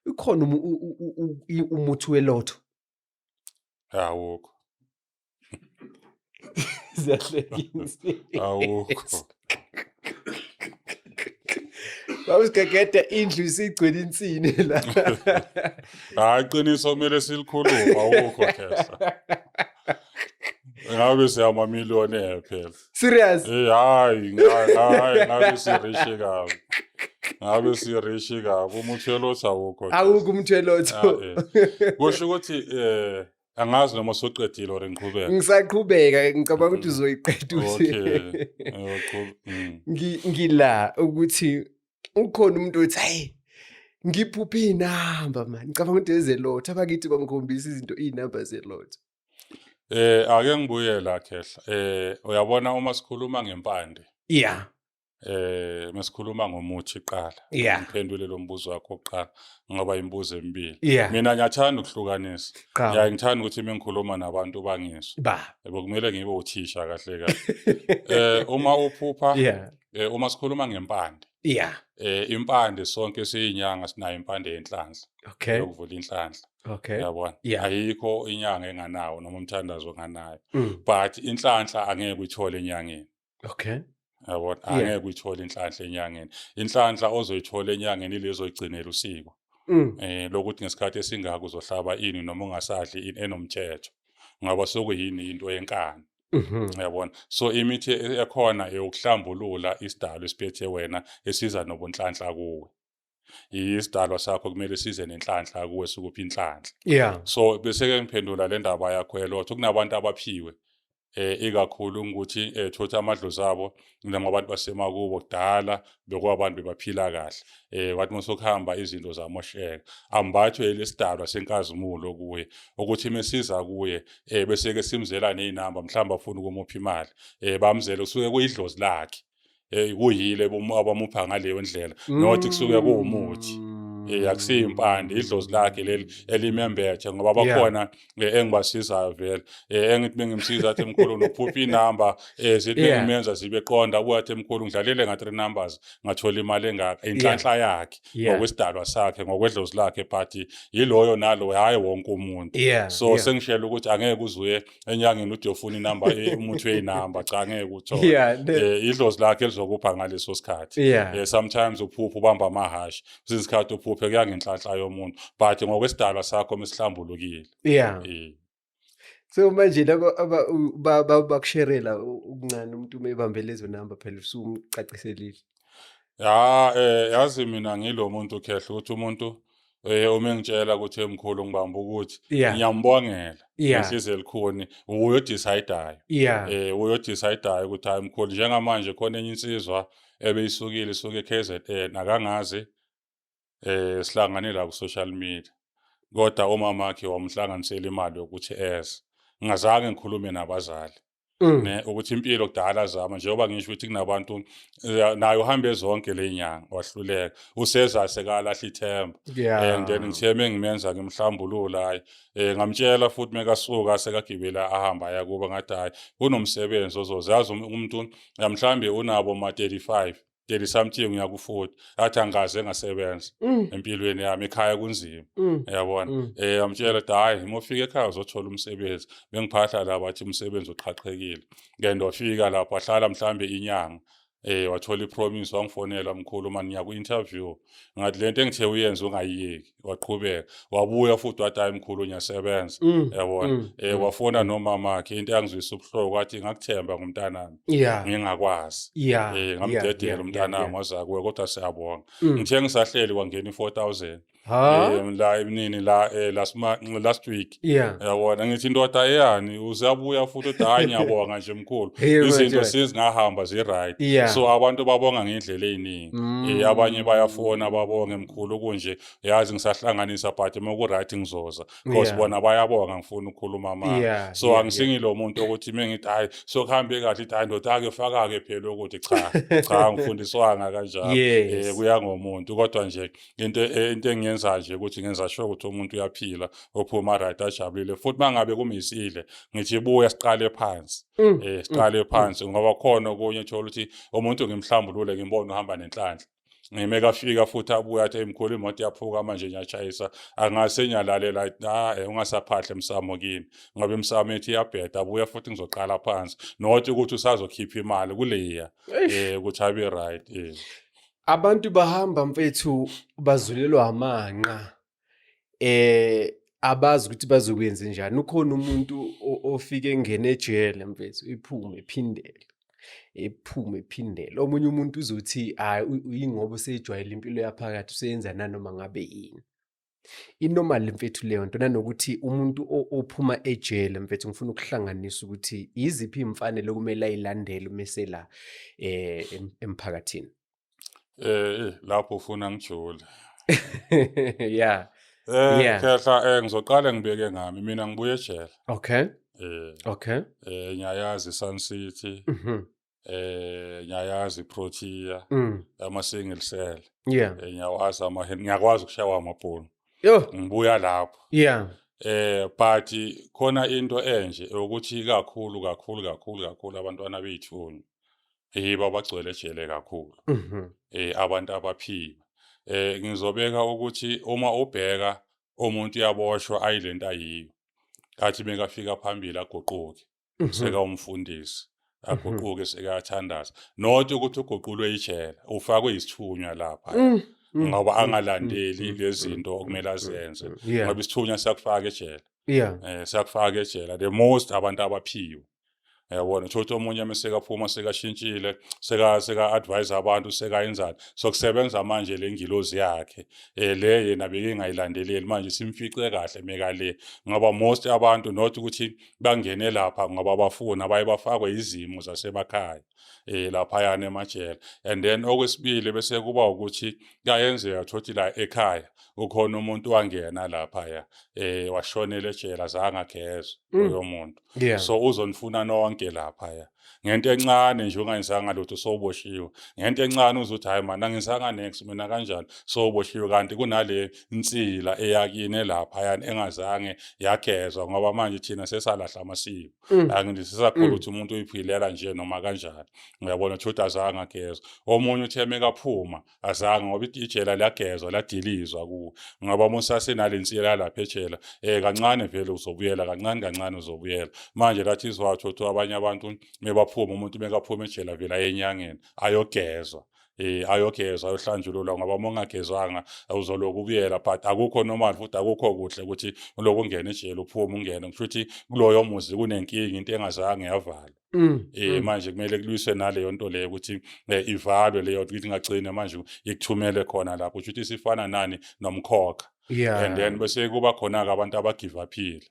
Ukhona umuthi welotho? Awukho. ziyahlekisa awukho Bawusigegede indlu isigcwele insini la. Hayi qiniso kumele silikhulume awukho khesa. Ngabe siyama miliyoni phela. Serious? Eh hayi hayi ngabe sirishe kabi. Ngabe sirishe kabi umthelo otha awukho. Awukho umthelo otho. Kusho ukuthi eh angazi noma soqedile or ngiqhubeka ngisaqhubeka ngicabanga ukuthi mm. uzoyiqeda uthi mm. ngila ukuthi ukhona umuntu othi hayi ngiphuphe iy'namba mani ngicabanga ukuthi ezelotha abakithi bangikhombisa izinto iy'namba zelotha Eh ake ngibuye la khehla. Eh uyabona uma sikhuluma ngempande. Yeah. eh mesikhuluma ngomuthi qala Yeah. ngiphendule lo mbuzo wakho oqala ngoba imibuzo emibili Yeah. mina ngiyathanda ukuhlukanisa Qhawe. ngiyaye ngithanda ukuthi uma ngikhuluma nabantu bangizwe Ba. yebo kumele ngibe uthisha kahle kahle eh uma uphupha Yeah. eh, uma sikhuluma ngempande Yeah. eh impande sonke siyinyanga sinayo impande yenhlanhla Okay. yokuvula inhlanhla Okay. yabona Yeah. ayikho inyanga enganawo noma umthandazo nganayo Mm. but inhlanhla angeke uyithole enyangeni okay yabona angeke uyithole inhlanhla enyangeni inhlanhla ozoyithola enyangeni ilezo igcinela usiko mm. eh lokuthi ngesikhathi esingaka uzohlaba ini noma ungasadli ini enomthetho ngaba sokuyini into yenkani mhm. yabona so imithi ekhona eyokuhlambulula isidalo esiphethe wena esiza nobunhlanhla kuwe isidalwa sakho kumele size nenhlanhla kuwe sukuphi inhlanhla yeah so bese ke ngiphendula le ndaba yakho yelotho kunabantu abaphiwe eh ikakhulu ukuthi eh thothi amadlozi abo noma abantu basemakubo kudala bekwabantu bebaphila kahle eh wathi musokuhamba izinto zamosheka ambathwe lesidalwa senkazimulo kuye ukuthi mesiza kuye eh bese ke simzela nezinamba mhlamba afuna ukumupha imali eh bamzela usuke kuyidlozi lakhe hey uyile abamupha ngaleyo ndlela nothi kusuke kuwumuthi eh akusiyo impande idlozi lakhe leli elimembethe ngoba bakhona eh, engibasizayo vele eh, engithi bengimsiza athi mkhulu nophupha inamba eh, zithi bengimenza zibe qonda ubuya athi mkhulu ngidlalele nga three numbers ngathola imali engaka inhlanhla yakhe ngokwesidalwa sakhe ngokwedlozi lakhe but yiloyo nalo hayi wonke umuntu so sengishela ukuthi angeke uzuye enyangeni ude ufuna inamba eh, umuthi weyinamba cha ngeke uthole yeah, eh, idlozi lakhe lizokupha ngaleso sikhathi yeah. eh, sometimes uphupha ubamba amahashi kwesinye isikhathi uphuphe kuya ngenhlanhla yomuntu but ngokwesidalwa sakho mesihlambulukile yeah. eh. so manje laba bakusherela ukuncane umuntu uma ebambele lezo namba phela usumcaciselile ya eh yazi mina ngilomuntu khehla ukuthi umuntu Eh uma engitshela ukuthi emkhulu ngibamba ukuthi Yeah. ngiyambongela Yeah. ngisize elikhuni uyodecidayo Yeah. eh uyodecidayo ukuthi hayi mkhulu njengamanje khona enye insizwa ebeyisukile isuke eKZN akangazi eh sihlangane la ku social media kodwa umama wakhe wamhlanganisela imali yokuthi eze ngingazange ngikhulume nabazali Mm. ne ukuthi impilo kudala zama njengoba ngisho ukuthi kunabantu eh, naye uhambe zonke le nyanga wahluleka useza sekalahla ithemba Yeah. and then ngithe mengimenza ngimhlambulula hayi eh ngamtshela futhi mekasuka sekagibela ahamba aya kuba ngathi hayi kunomsebenzi ozoze yazi um- umuntu mhlawumbe unabo ma 35 30 something uya ku 40 athi angaze ngasebenza mm. empilweni yami ekhaya kunzima mm. yabona mm. eh amtshela hayi uma ufika ekhaya uzothola umsebenzi bengiphahla la bathi umsebenzi uqhaqhekile ngento wafika lapho ahlala mhlambe inyanga eh wathola ipromise wangifonela mkhulu mani ngiya ku interview ngathi lento engithe uyenze ungayiyeki waqhubeka wabuya futhi wathi hayi mkhulu ngiyasebenza mm, yabona mm, eh mm. wafona nomama wakhe into yangizwisa ubuhloko wathi ngakuthemba ngumntanami ngingakwazi eh ngamdedela umntanami waza kuwe kodwa siyabonga ngithe ngisahleli kwangena i4000 eh la imnini la eh, last last week yeah yabona ngithi indoda eyani usabuya futhi uthi hayi ngiyabonga nje mkhulu izinto sezingahamba ziright yeah. so abantu babonga ngendlela eziningi mm. Eh, abanye bayafona babonge mkhulu kunje yazi ngisahlanganisa but uma kuright ngizoza because yeah. bona bayabonga ngifuna ukukhuluma manje yeah. so yeah, angisingilo yeah. muntu ukuthi uma ngithi hayi so kuhambe kahle ithi hayi ndoda ake faka-ke phela ukuthi cha cha ngifundiswanga kanjalo um yes. eh, kuya ngomuntu kodwa nje into e, into engiyenza nje ukuthi ngenza sure ukuthi umuntu uyaphila ophuma right ajabulile futhi mangabe kumisile ngithi buya siqale phansi mm, eh mm, siqale mm. phansi ngoba khona okunye thola ukuthi umuntu ngimhlambulule ngimbone uhamba nenhlanhla ngime kafika futhi abuya athi imkhulu imoto yaphuka manje ngiyashayisa angase ngiyalalela ah eh, ungasaphahle msamo kimi ngoba imsamo ethi iyabheda abuya futhi ngizoqala phansi not ukuthi usazokhipha imali kuleya eh ukuthi abe right eh Abantu bahamba mfethu bazulelwa amanqa eh abazi ukuthi bazokwenza njani ukhona umuntu ofike engene ejele mfethu iphume iphindele ephume ephindele omunye umuntu uzothi hayi uyingoba useyijwayele impilo yaphakathi useyenza nanoma ngabe yini inormal mfethu leyo nto nanokuthi umuntu ophuma ejele mfethu ngifuna ukuhlanganisa ukuthi yiziphi iy'mfanelo okumele ayilandele uma esela um emphakathini um lapho ufuna ngijule ya um yeah. khehla um eh, ngizoqale ngibeke ngami mina ngibuye ejele okay um okay um ngiyayazi i-sun city mm -hmm. eh ngiyayazi iprotea mm. ama single cell yeah eh, ngiyawazi ama ngiyakwazi ukushawa amabhunu yo ngibuya lapho yeah eh but khona into enje ukuthi kakhulu kakhulu kakhulu kakhulu abantwana bethu yiba bagcwele ejele kakhulu mhm. eh abantu abaphiwe eh ngizobeka ukuthi uma ubheka umuntu uyaboshwa ayilento ayiyo kathi bengafika phambili aguquke mhm. seka umfundisi mhm. aguquke sekathandaza not ukuthi uguqulwe ijele ufakwe isithunywa lapha mm, mm, ngoba mm, angalandeli lezinto okumele azenze ngoba isithunywa sakufaka ejele yeah eh sakufaka ejele the most abantu abaphiwe yabona thothi omunye mesekaphuma sekashintshile seka seka advise abantu sekayenzani sokusebenza manje lengilozi yakhe eh le yena bekengayilandeleli manje simfice kahle meka le ngoba most abantu not ukuthi bangene lapha ngoba bafuna baye bafakwe izimo zasemakhaya eh laphayana emajele and then okwesibili bese kuba ukuthi kayenzeka thothi la ekhaya ukhona umuntu wangena lapha ya eh washonela ejela zangageza mm. loyo muntu so uzonifuna nonke lapha ya ngento encane nje ungayenzanga lutho sowuboshiwe ngento encane uzothi hayi mani angenzanga next mina kanjani sowuboshiwe kanti kunale nsila eyakini lapha yani engazange yagezwa ngoba manje thina sesalahla amasiko mm. angithi sisakholwa mm. ukuthi umuntu uyiphilela nje noma kanjani uyabona ukuthi azange agezwa omunye uthe mekaphuma azange ngoba ijela liyagezwa ladilizwa ku ngaba uma usasenale nsiyela lapha ejela eh kancane vele uzobuyela kancane kancane uzobuyela manje lathi izwathu ukuthi abanye abantu mebaphuma umuntu mekaphuma ejela vele ayenyangeni ayogezwa eh ayogezwa ayohlanjululwa ngoba uma ungagezwanga uzoloku ubuyela but akukho normal futhi akukho kuhle ukuthi uloku ungena ejele uphuma ungena kusho ukuthi kuloyo muzi kunenkinga into engazange yavala Mm, eh mm. manje kumele kulwiswe naleyo nto leyo ukuthi eh, ivalwe leyo nto ukuthi ingagcine manje ikuthumele khona lapho kusho ukuthi sifana nani nomkhokha yeah. and then bese kuba khona-ke abantu abagive aphile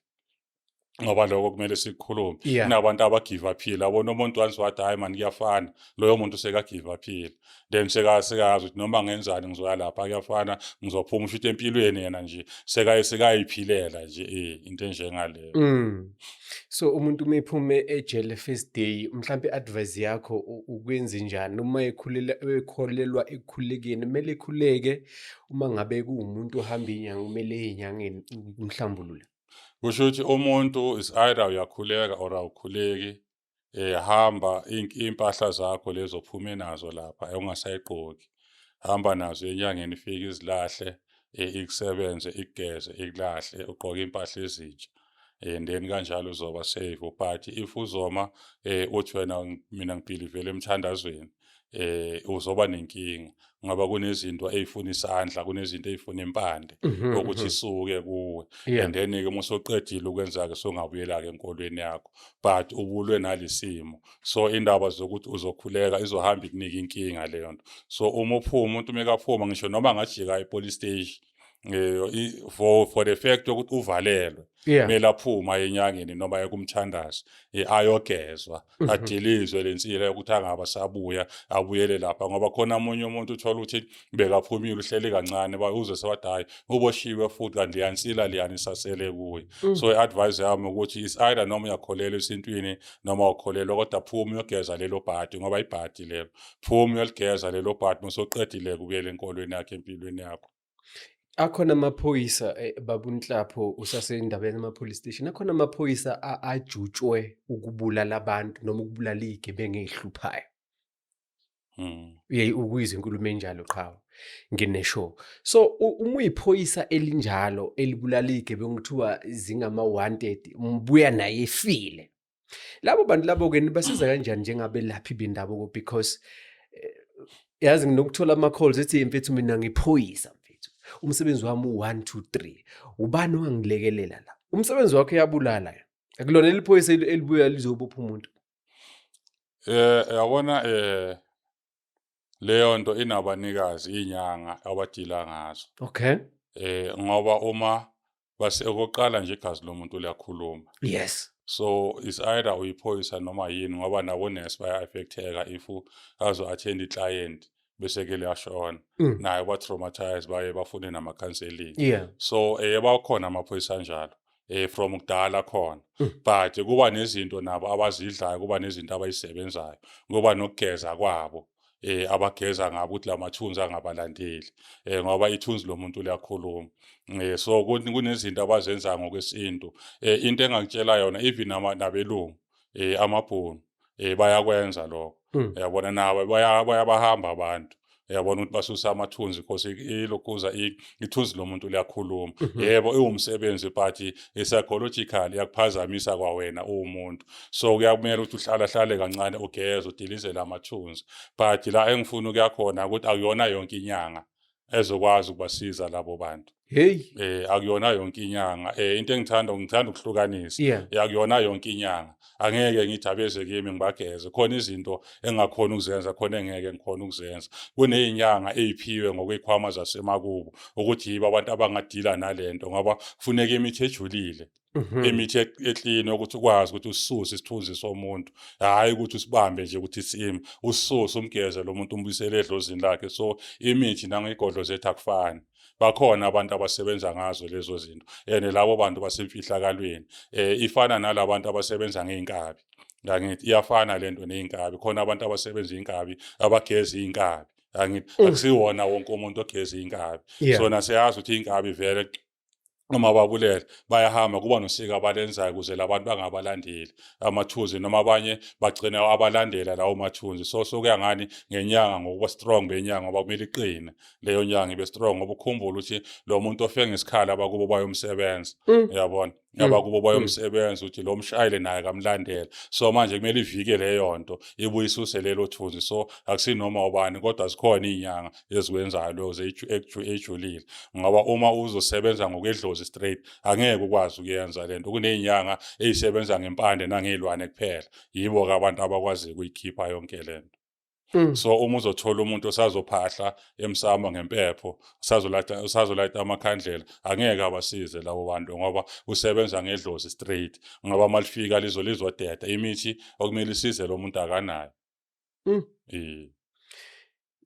ngoba lokho kumele sikukhulume yeah. kunabantu abagive aphile abona umuntu once wathi hhayi mani kuyafana loyo muntu sekagive aphile then seka sekayazi ukuthi noma ngenzani ngizoya lapha kuyafana ngizophuma usho ukuthi empilweni yena nje sekaye sekayiphilela nje eh into enjengaleyo mm. so umuntu uma ephume ejele first day mhlawumbe advice yakho ukwenze njani uma ekhulela ekholelwa ekukhulekeni kumele ekhuleke uma ngabe kuwumuntu ohamba inyanga kumele enyangeni umhlambulule kusho ukuthi umuntu is either uyakhuleka or awukhuleki eh hamba impahla zakho lezo phume nazo lapha ungasayigqoki hamba nazo enyangeni ifike izilahle eh, ikusebenze ikugeze ikulahle ugqoke impahla ezintsha eh then kanjalo uzoba safe but if uzoma eh uthi wena mina ngibhilivele emthandazweni eh uzoba nenkinga ngoba kunezinto ezifuna isandla kunezinto ezifuna impande mhm, ukuthi mhm. isuke kuwe and then ke musoqedile ukwenza ke songabuyela ke enkolweni yakho but ubulwe nalisimo so indaba zokuthi uzokhuleka izohamba ikunika inkinga leyo nto so uma uphuma umuntu mekaphuma ngisho noma ngajika epolice station eh for for the fact ukuthi uvalelwe yeah. kumele aphuma enyangeni noma ekumthandazi eh, ayogezwa mm -hmm. adilizwe lensila yokuthi angaba sabuya abuyele lapha ngoba khona omunye umuntu uthola ukuthi bekaphumile uhleli kancane uze sewathi hayi uboshiwe futhi kanti liyansila liyanisasele kuye mm. so i-advise yami ukuthi is either noma uyakholelwa esintwini noma ukholelwa kodwa phuma uyogeza lelo bhadi ngoba ibhadi lelo phuma uyoligeza lelo bhadi mosoqedile kubuyela enkolweni yakhe empilweni yakho akhona amaphoyisa eh, babunhlapho usasendabeni ama-police station akhona amaphoyisa ajutshwe ukubulala abantu noma ukubulala iy'gebengu ey'hluphayo hmm. uye ukuyizwa inkulumo enjalo qhawe ngineshow so uma uyiphoyisa elinjalo elibulala iy'gebengu kuthiwa zingama-wanted mbuya naye efile labo bantu labo ke nibasiza kanjani njengabelaphi bendabuko because eh, yazi nginokuthola ama calls ethi mfethu mina ngiphoyisa mfethu umsebenzi wami u1 2 3 ubani ongangilekelela la umsebenzi wakhe yabulala akulona eliphoyisa elibuya lizobopha umuntu eh yabona eh leyo nto inabanikazi inyanga abadila ngazo okay eh ngoba uma base okokuqala nje igazi lomuntu liyakhuluma yes so is either uyiphoyisa noma yini ngoba nabo nurse baya affecteka if azo attend i client bese ke liyashona mm. naye ba traumatized baye bafune nama counseling yeah. so eh bakhona amaphoyisa anjalo eh from kudala khona mm. but kuba nezinto nabo abazidlayo kuba nezinto abayisebenzayo ngoba nokugeza kwabo eh abageza ngabo ukuthi lamathunzi angabalandeli eh ngoba ithunzi lomuntu liyakhuluma eh so kunezinto abazenza ngokwesintu eh into engangitshela yona even nabelungu eh amabhunu eh bayakwenza lokho hmm. yabona nabo bayabahamba abantu yabona ukuthi basusa amathunzi because ilokhuza ithunzi lomuntu liyakhuluma mhm. yebo iwumsebenzi but psychological iyakuphazamisa kwawena uwumuntu so kuyakumele ukuthi uhlala hlale kancane ugeze udilizele amathunzi but la engifuna ukuyakhona ukuthi akuyona yonke inyanga ezokwazi ukubasiza labo bantu hey eh akuyona yonke inyanga eh into engithanda ngithanda ukuhlukanisa yeah. akuyona yonke inyanga angeke ngithi abeze kimi ngibageze khona izinto engakhona ukuzenza khona engeke ngikhona ukuzenza kuneyinyanga eyiphiwe ngokwekhwama zasemakubo ukuthi yibo abantu abangadila nalento ngoba kufuneka imithi ejulile mhm. imithi e-, eklini ukuthi ukwazi ukuthi ususe isithunzi somuntu hhayi ukuthi usibambe nje ukuthi sim ususe umgeze lo muntu umbuyisele edlozini lakhe so imithi nangeyigodlo zethu akufani bakhona abantu abasebenza ngazo lezo zinto and labo bantu basemfihlakalweni um ifana nalabantu abasebenza ngey'nkabi angithi iyafana le nto ney'nkabi khona abantu abasebenza iy'nkabi abageza iy'nkabi angithi mm. akusiwona wonke umuntu ogeza iy'nkabi so naseyazi ukuthi iy'nkabi vele noma babulele bayahamba kuba nosika abalenzayo ukuze labantu bangabalandeli amathunzi noma abanye bagcina abalandela lawo mathunzi so sokuya ngani ngenyanga ngokuba strong benyanga ngoba kumele iqine leyo nyanga ibe strong ngoba ukhumbula ukuthi lo muntu ofe ngesikhala abakubo bayomsebenza mm. uyabona mm. abakubo mm. bayomsebenza ukuthi lo mshayele naye kamlandela so manje kumele ivike leyo nto ibuyisuse lelo thunzi so akusinoma ubani kodwa zikhona iy'nyanga ezikwenzayo lo ejulile ngoba uma uzosebenza ngokwedlozi straight angeke ukwazi ukuyenza lento kunezinyanga ezisebenza ngempande nangezilwane kuphela yibo ke abantu abakwazi ukuyikhipha yonke lento Mm. so uma uzothola umuntu osazophahla emsamo ngempepho usazolayita usazolayita amakhandlela angeke abasize labo bantu ngoba usebenza ngedlozi straight ngoba malifika lizolizodeda imithi okumele isize lo muntu akanayo Mm. Eh.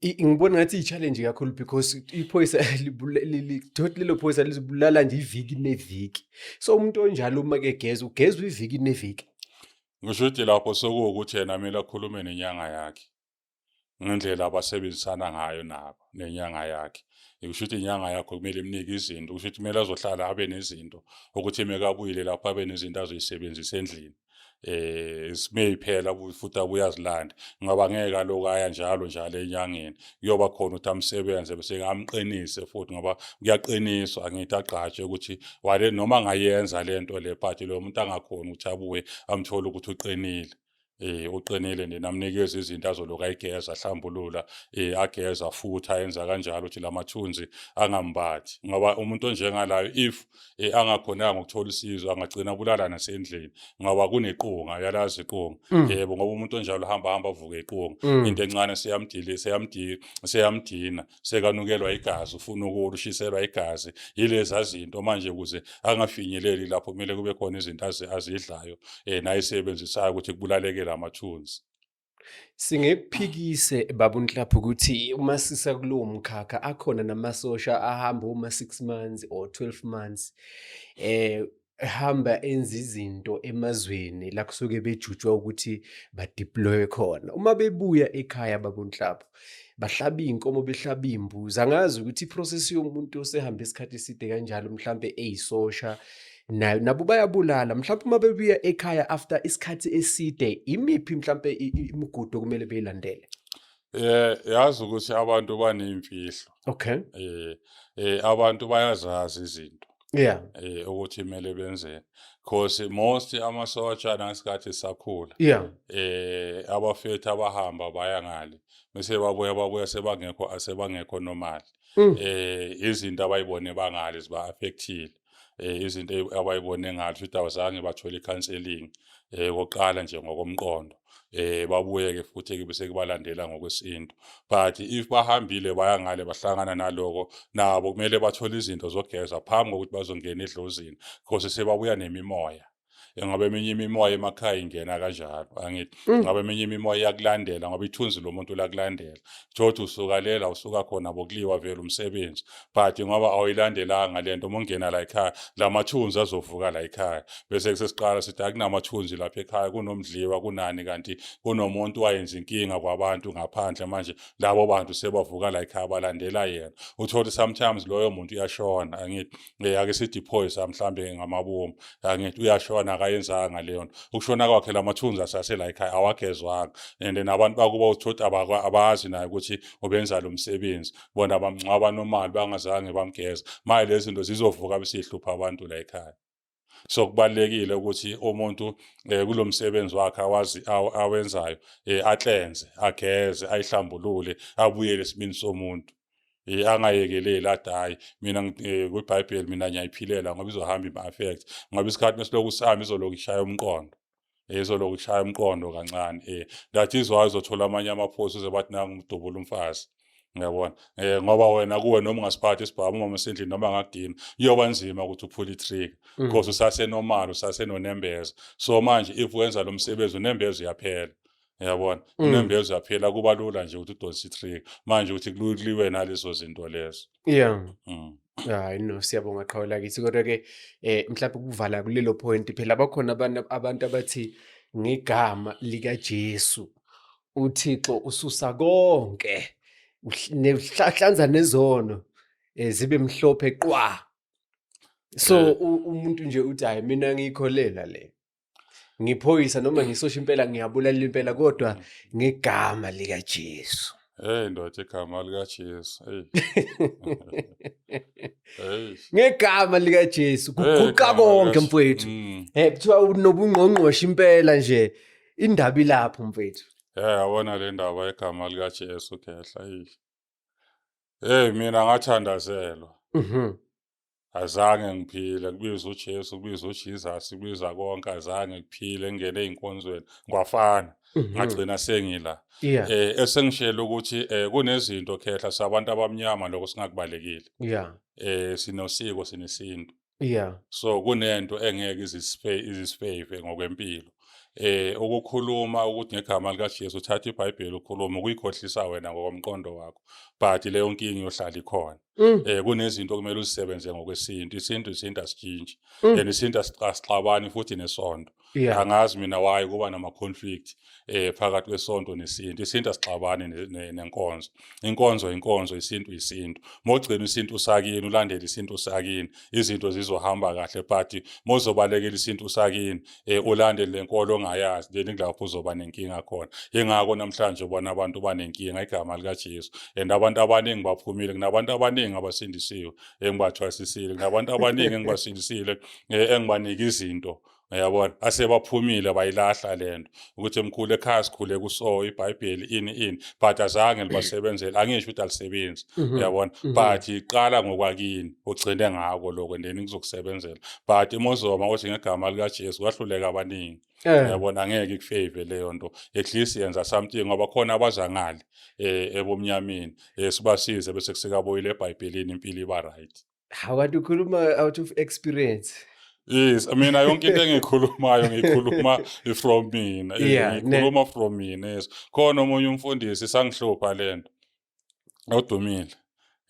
ngibona ngathi i-challenge kakhulu because iphoyisa lidothi lelo phoyisa lizibulala nje iviki neviki so umuntu onjalo uma kegeza ugezwa iviki neviki ngisho ukuthi lapho sekuwukuthi yena kumele akhulume nenyanga yakhe ngendlela abasebenzisana ngayo nabo nenyanga yakhe kusho ukuthi inyanga yakho kumele imnike izinto kusho ukuthi kumele azohlala abe nezinto ukuthi mekabuyile lapho abe nezinto azoyisebenzisa endlini eh simeyiphela futhi abuyazilanda ngoba ngeke aloku aya njalo njalo enyangeni kuyoba khona ukuthi amsebenze bese ngamqinise futhi ngoba kuyaqiniswa angithi agqatshe ukuthi wale noma ngayenza lento le but lo muntu angakhona ukuthi abuye amthole ukuthi uqinile eh uqinile nina amnikeza izinto azoloka igeza ahlambulula eh ageza futhi ayenza kanjalo ukuthi lamathunzi angambathi ngoba umuntu onjengalayo if eh, angakhonanga ukuthola usizo angagcina bulala nasendlini ngoba kunequnga yalazi iqunga mm. yebo ngoba umuntu onjalo hamba hamba avuke iqunga mm. into encane seyamdile seyamdile seyamdina sekanukelwa igazi ufuna ukulu ushiselwa igazi yilezi azinto manje ukuze angafinyeleli lapho kumele kube khona izinto azidlayo eh nayisebenzisayo ukuthi kubulalekele amathunzi Singekuphikise babu Nhlapho ukuthi uma sisa kulowo mkhakha akhona namasosha ahamba uma 6 months or 12 months eh ehamba enza izinto emazweni la kusuke bejutshwa ukuthi badeploye khona. Uma bebuya ekhaya babu Nhlapho bahlaba iy'nkomo behlaba iy'mbuzi. Angazi ukuthi i-process yomuntu osehambe isikhathi eside kanjalo mhlampe eyisosha nayo nabo bayabulala mhlawumbe uma bebuya ekhaya after isikhathi eside imiphi mhlawumbe imigudu okumele beyilandele Eh yazi ukuthi abantu banemfihlo. Okay. Eh eh abantu bayazazi izinto. Yeah. Eh ukuthi kumele benzeni. Cause most amasotsha nasikhathi sakhula. Yeah. Eh abafethu abahamba baya ngale. Bese babuya babuya sebangekho asebangekho normal. Mm. Eh izinto abayibone bangale ziba affectile. eh izinto abayibone ngathi ukuthi awuzange bathole counseling eh koqala nje ngokomqondo eh babuyeke futhi kube sekubalandela ngokwesintu but if bahambile baya ngale bahlangana naloko nabo kumele bathole izinto zogeza phambi kokuthi bazongena edlozini because sebabuya nemimoya engabe eminye imimoya emakhaya ingena kanjalo angithi mm. ngabe eminye imimoya iyakulandela ngoba ithunzi lomuntu lakulandela thothi usukalela usuka khona bokuliwa vele umsebenzi but ngoba awuyilandelanga lento uma ungena la ekhaya lamathunzi azovuka la ekhaya bese kusesiqala sithi akunamathunzi lapha ekhaya kunomdliwa kunani kanti kunomuntu wayenza inkinga kwabantu ngaphandle manje labo bantu sebavuka la ekhaya balandela yena uthole sometimes loyo muntu uyashona angithi le yake sithi phoyisa mhlambe ngamabomu angithi uyashona akayenzanga leyo nto ukushona kwakhe lamathunzi asasela ekhaya awagezwanga and nabantu bakuba uthothi abazi naye ukuthi ubenza lo msebenzi bona bamngcwaba nomali bangazange bamgeza manje lezi zinto zizovuka besihlupha abantu la ekhaya so kubalekile ukuthi umuntu eh, kulomsebenzi wakhe awazi awenzayo eh, atlenze ageze ayihlambulule abuyele isibini somuntu eh, angayekeleli athi hayi mina eh, kwibhayibheli mina ngiyayiphilela ngoba izohamba ima-affect ngoba isikhathi mesilokhu sihamba izolokhu ishaya umqondo ezoloku shaya umqondo kancane eh that is why uzothola amanye amaphosi uze bathi nangu umdubula umfazi ngiyabona eh ngoba wena kuwe noma ungasiphathi isibhamu uma usendlini noma ngagina iyoba nzima ukuthi uphule itrigger mm. because usase normal usase nonembeza so manje if wenza lo msebenzi unembeza uyaphela uyabona mm. inembeza yaphela kuba lula nje ukuthi udonse itrick manje ukuthi kuliwe nalezo zinto lezo yeah mm. hayi no siyabonga qhawe lakithi kodwa ke eh mhlawumbe ukuvala kulelo point phela bakhona abantu abantu abathi ngegama lika Jesu uThixo ususa konke nehlanza nezono eh, zibe mhlophe qwa so eh. umuntu nje uthi hayi mina ngiyikholela le ngiphoyisa noma ngisosha impela ngiyabulalela impela kodwa ngegama likaJesu hey ndoda igama likaJesu hey ngegama likaJesu kuguqa konke mfowethu mm. eh kuthiwa unobungqongqoshe impela nje indaba ilapho mfowethu eh yabona le ndaba egama likaJesu khehla hey hey mina ngathandazelwa mhm azange ngiphile kubiza uJesu kubiza uJesus kubiza konke azange kuphile ngene inkonzweni kwafana mhm. ngagcina sengila eh esengishela ukuthi eh, kunezinto khehla sabantu abamnyama lokho singakubalekile yeah eh sinosiko sinesintu yeah so kunento engeke izisiphe izisiphe ngokwempilo eh ukukhuluma ukuthi ngegama lika Jesu uthatha iBhayibheli ukhuluma ukuyikhohlisa wena ngokomqondo wakho but leyo nkingi yohlala ikhona Mm. Eh kunezinto kumele uzisebenze ngokwesintu. Isintu isintu asitshintshi. Mm. And isintu asixabani futhi nesonto. Yeah. Angazi mina why kuba nama conflict eh phakathi kwesonto nesintu. Isintu asixabani nenkonzo. Inkonzo inkonzo, isintu isintu. Mogcina isintu usakini, ulandele isintu usakini. Izinto zizohamba kahle but mozobalekela isintu usakini, um ulandele le nkolo ongayazi then kulapho uzoba nenkinga khona yingako namhlanje ubona abantu banenkinga igama likajesu and abantu abaningi baphumile kunabantu abaningi abasindisiwe engibathwasisile kunabantu abaningi engibasindisile um engibanike izinto uyabona asebaphumile bayilahla le nto ukuthi mkhulu ekhaya sikhule kuso ibhayibheli ini ini but azange libasebenzele angisho ukuthi alisebenzi mhm. uyabona mhm. but iqala ngokwakini ugcine ngako lokho and then kuzokusebenzela but imozoma othi ngegama likajesu kwahluleka abaningi eh. uyabona angeke ikufave leyo nto at least yenza something ngoba khona abazangale um ebomnyameni um sibasize bese kusekaboyile ebhayibhelini impilo iba right Hawu kanti ukhuluma out of experience. Yes, I mean yonke into engikhulumayo ngikhuluma from mina. Yeah, ne- Ngikhuluma from mina. Yes. Khona omunye umfundisi sangihlupha lento. Odumile.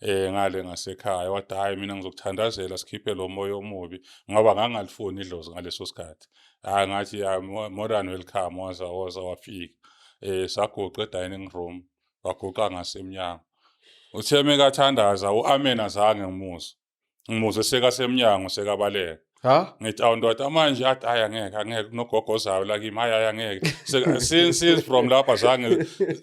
Eh ngale ngasekhaya wathi hayi mina ngizokuthandazela sikhiphe lo moya omubi ngoba ngangalifuni idlozi ngaleso sikhathi. Hayi ngathi ya more than welcome waza waza wafika. Eh sagoqa dining room waguqa ngasemnyango uthe mekathandaza u-amen azange ngimuzwe ngimuze sekasemnyango sekabaleka ha ngithi awu ndoda manje athi hhayi angeke angeke kunogogozayo la kimi hhayi hhayi angeke Se- since since from lapho azange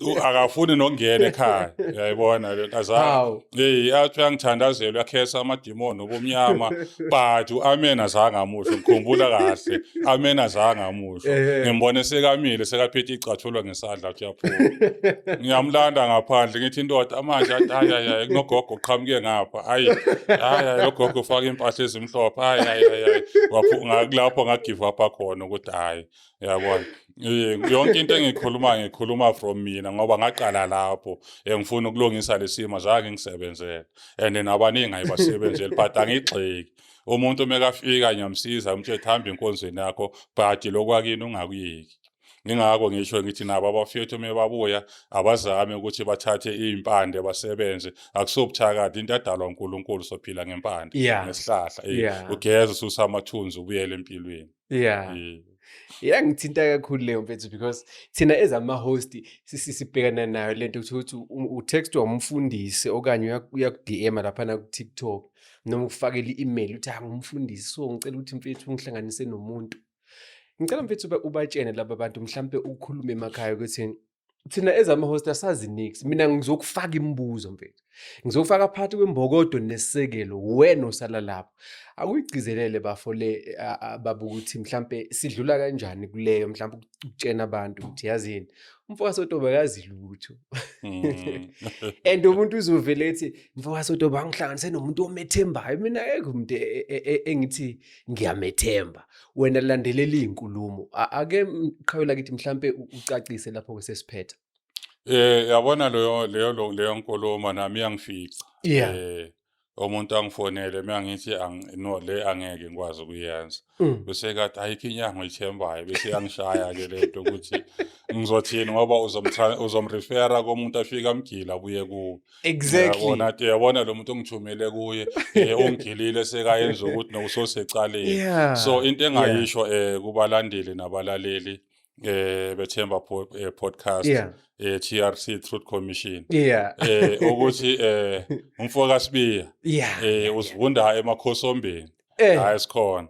u- akafuni nokungena ekhaya uyayibona le nto azange hawu eyi athi uyangithandazela uyakhesa ama ubudimoni obumnyama but u-amen azange amusho ngikhumbula kahle amen azange amusho Ehhe. ngimbone sekamile sekaphethe icathulo ngesandla athi uyaphuma ngiyamlanda ngaphandle ngithi indoda manje athi hayi hayi hayi kunogogo uqhamuke ngapha hayi hayi hayi logogo ufake impahla ezimhlophe hayi hayi hayi hayi Waphu- nga- kulapho ngagive up khona ukuthi hayi yabona yonke into engikhuluma ngikhuluma from mina ngoba ngaqala lapho engifuna ukulungisa lesimo zange ngisebenzele and nabaningi ayibasebenzeli but angigxeki umuntu mekafika ngiyamsiza umthetho hamba enkonzweni yakho but lokwakini ungakuyeki ngingako ngisho ngithi nabo abafethu uma babuya abazame ukuthi bathathe iy'mpande basebenze akusobuthakathi into adalwa unkulunkulu sophila ngempande yeah. ngesihlahla yeah. ugeze ususa amathunzi ubuyele empilweni yeah mm. yangithinta kakhulu leyo mfethu because thina as ama-host sibhekana nayo le nto ukuthi utextwa umfundisi okanye uyaku-dm laphana ku-tiktok noma ukufakela i-email ukuthi angumfundisi so ngicela ukuthi mfethu ungihlanganise nomuntu ngicela mfethu ubatshene laba bantu mhlawumpe ukhulume emakhaya ukuthi thina ezama host asazi nix mina ngizokufaka imibuzo mfethu ngizokufaka phakathi kwembokodo nesekelo wena osala lapho akuyigcizelele bafo le baba ukuthi mhlambe sidlula kanjani kuleyo mhlambe ukutshena abantu ukuthi yazini umfokazi odoba akazi lutho mm. and umuntu uzovele ethi mfokazi odoba angihlanganise nomuntu omethembayo mina ekho umuntu e, e, e, engithi ngiyamethemba wena landelela iy'nkulumo ake qhawela kithi mhlampe ucacise lapho-ke sesiphetha Eh yabona leyo leyo leyo nkulumo nami iyangifica. Yeah. Eh umuntu angifonele meyangithi no le angeke ngikwazi ukuyenza. Mm. Bese kathi ayikho inyanga oyithembayo bese yangishaya ke lento ukuthi ngizothini ngoba uzomrefera komuntu afika amgila abuye kuwe. exactly yabona ke yabona lo muntu ongithumele kuye eh, ongilile sekayenza ukuthi nokusosecaleni yeah. so into engayisho yeah. eh kubalandeli nabalaleli eh bethemba eh, podcast yeah. eh TRC Truth Commission yeah eh ukuthi eh umfoka Sibiya yeah eh usivunda emakhosombeni eh. la esikhona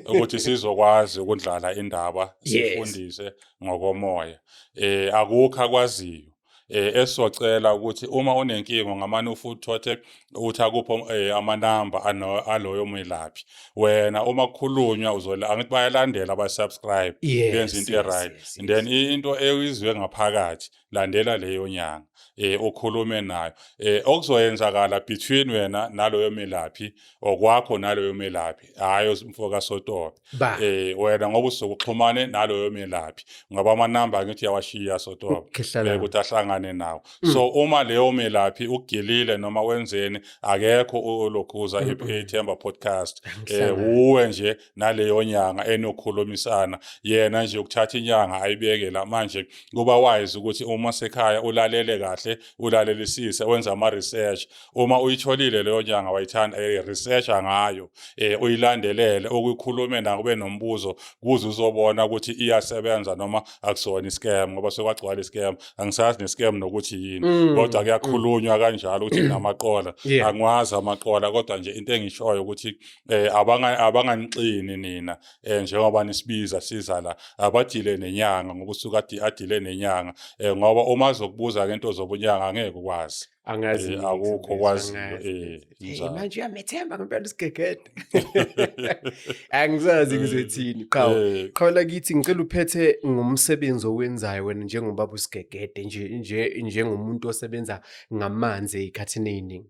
ukuthi sizokwazi ukundlala indaba sifundise ngokomoya eh akukho akwaziyo eh esocela ukuthi uma unenkingo ngamane ufuthothe uthi akupho eh, amanamba aloyo mwelaphi wena uma kukhulunywa uzola angithi bayalandela ba subscribe benza into right then into eyizwe ngaphakathi landela leyo nyanga eh okhulume nayo eh okuzoyenzakala between wena naloyo melaphi okwakho naloyo melaphi hayi umfoka sotobe eh wena ngoba usukuxhumane naloyo melaphi ngoba ama number ngithi yawashiya sotobe eh, ukuthi ahlangane nawo mm. so uma leyo melaphi ugilile noma wenzeni akekho olokhuza mm, mm. ithemba podcast eh uwe nje naleyo nyanga enokhulumisana yena nje ukuthatha inyanga ayibeke la manje kuba wise ukuthi uma sekhaya ulalele kahle ulalelisise wenza ama research uma uyitholile leyo nyanga wayithanda eh, research ngayo eh, uyilandelele ukukhulume na kube nombuzo kuze uzobona ukuthi iyasebenza noma akusona iscam ngoba sekwagcwala iscam angisazi nescam nokuthi yini mm. kodwa kuyakhulunywa kanjalo ukuthi namaqola angwazi amaqola kodwa nje into engishoyo ukuthi eh abanga abanganixini nina eh njengoba nisibiza siza la abadile nenyanga ngoba usuka adi adile nenyanga eh ngoba uma zokubuza ke into zobunyanga angeke ukwazi angazi eh, akukho kwazi eh njalo manje uyamethemba ngempela isigegede angizazi eh, ngizothini qha eh. qha lakithi ngicela uphethe ngomsebenzi owenzayo wena njengobaba usigegede nje nje njengomuntu osebenza ngamanzi ekhathini eziningi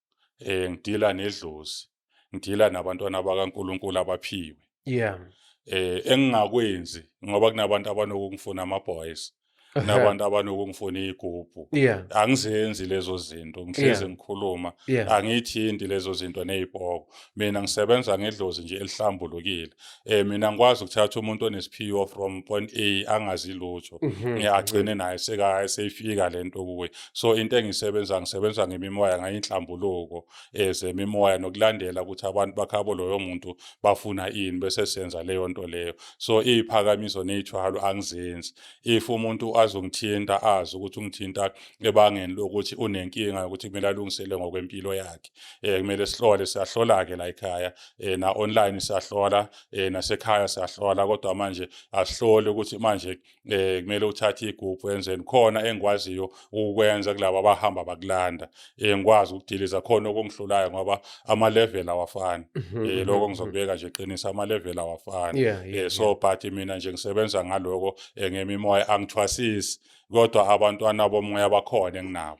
eh ngidila nedlozi ngidila nabantwana bakaNkuluNkulu abaphiwe yeah eh engingakwenzi ngoba kunabantu abanokungifuna ama boys nabantu abanokungifuna igubhu angizenzi lezo zinto ngihleze ngikhuluma angithinti lezo zinto nezipoko mina ngisebenza ngedlozi nje elihlambulukile eh mina ngikwazi ukuthatha umuntu onesiphiwo from point A angazi lutho mhm. ngiyagcine naye seka seyifika lento kuwe so into engisebenza ngisebenza ngemimoya ngayinhlambuluko ezemimoya eh, nokulandela ukuthi abantu bakhabo loyo muntu bafuna ini bese senza leyo nto leyo so iziphakamiso nezithwalo angizenzi if umuntu azongithinta azi ukuthi ungithinta ebangeni lokuthi unenkinga yokuthi kumele alungisele ngokwempilo yakhe eh kumele sihlole siyahlola ke la ekhaya eh na online siyahlola eh nasekhaya siyahlola kodwa manje asihlole ukuthi manje eh kumele uthathe iguphu enzeni khona engikwaziyo ukwenza kulabo abahamba bakulanda eh ngikwazi ukudiliza khona okungihlulayo ngoba ama level awafani mhm, eh mhm, lokho mhm. ngizokubeka nje qinisa ama level awafani eh so but mina nje ngisebenza ngaloko eh, ngemimoya angithwasisi kodwa abantwana bomoya bakhona enginabo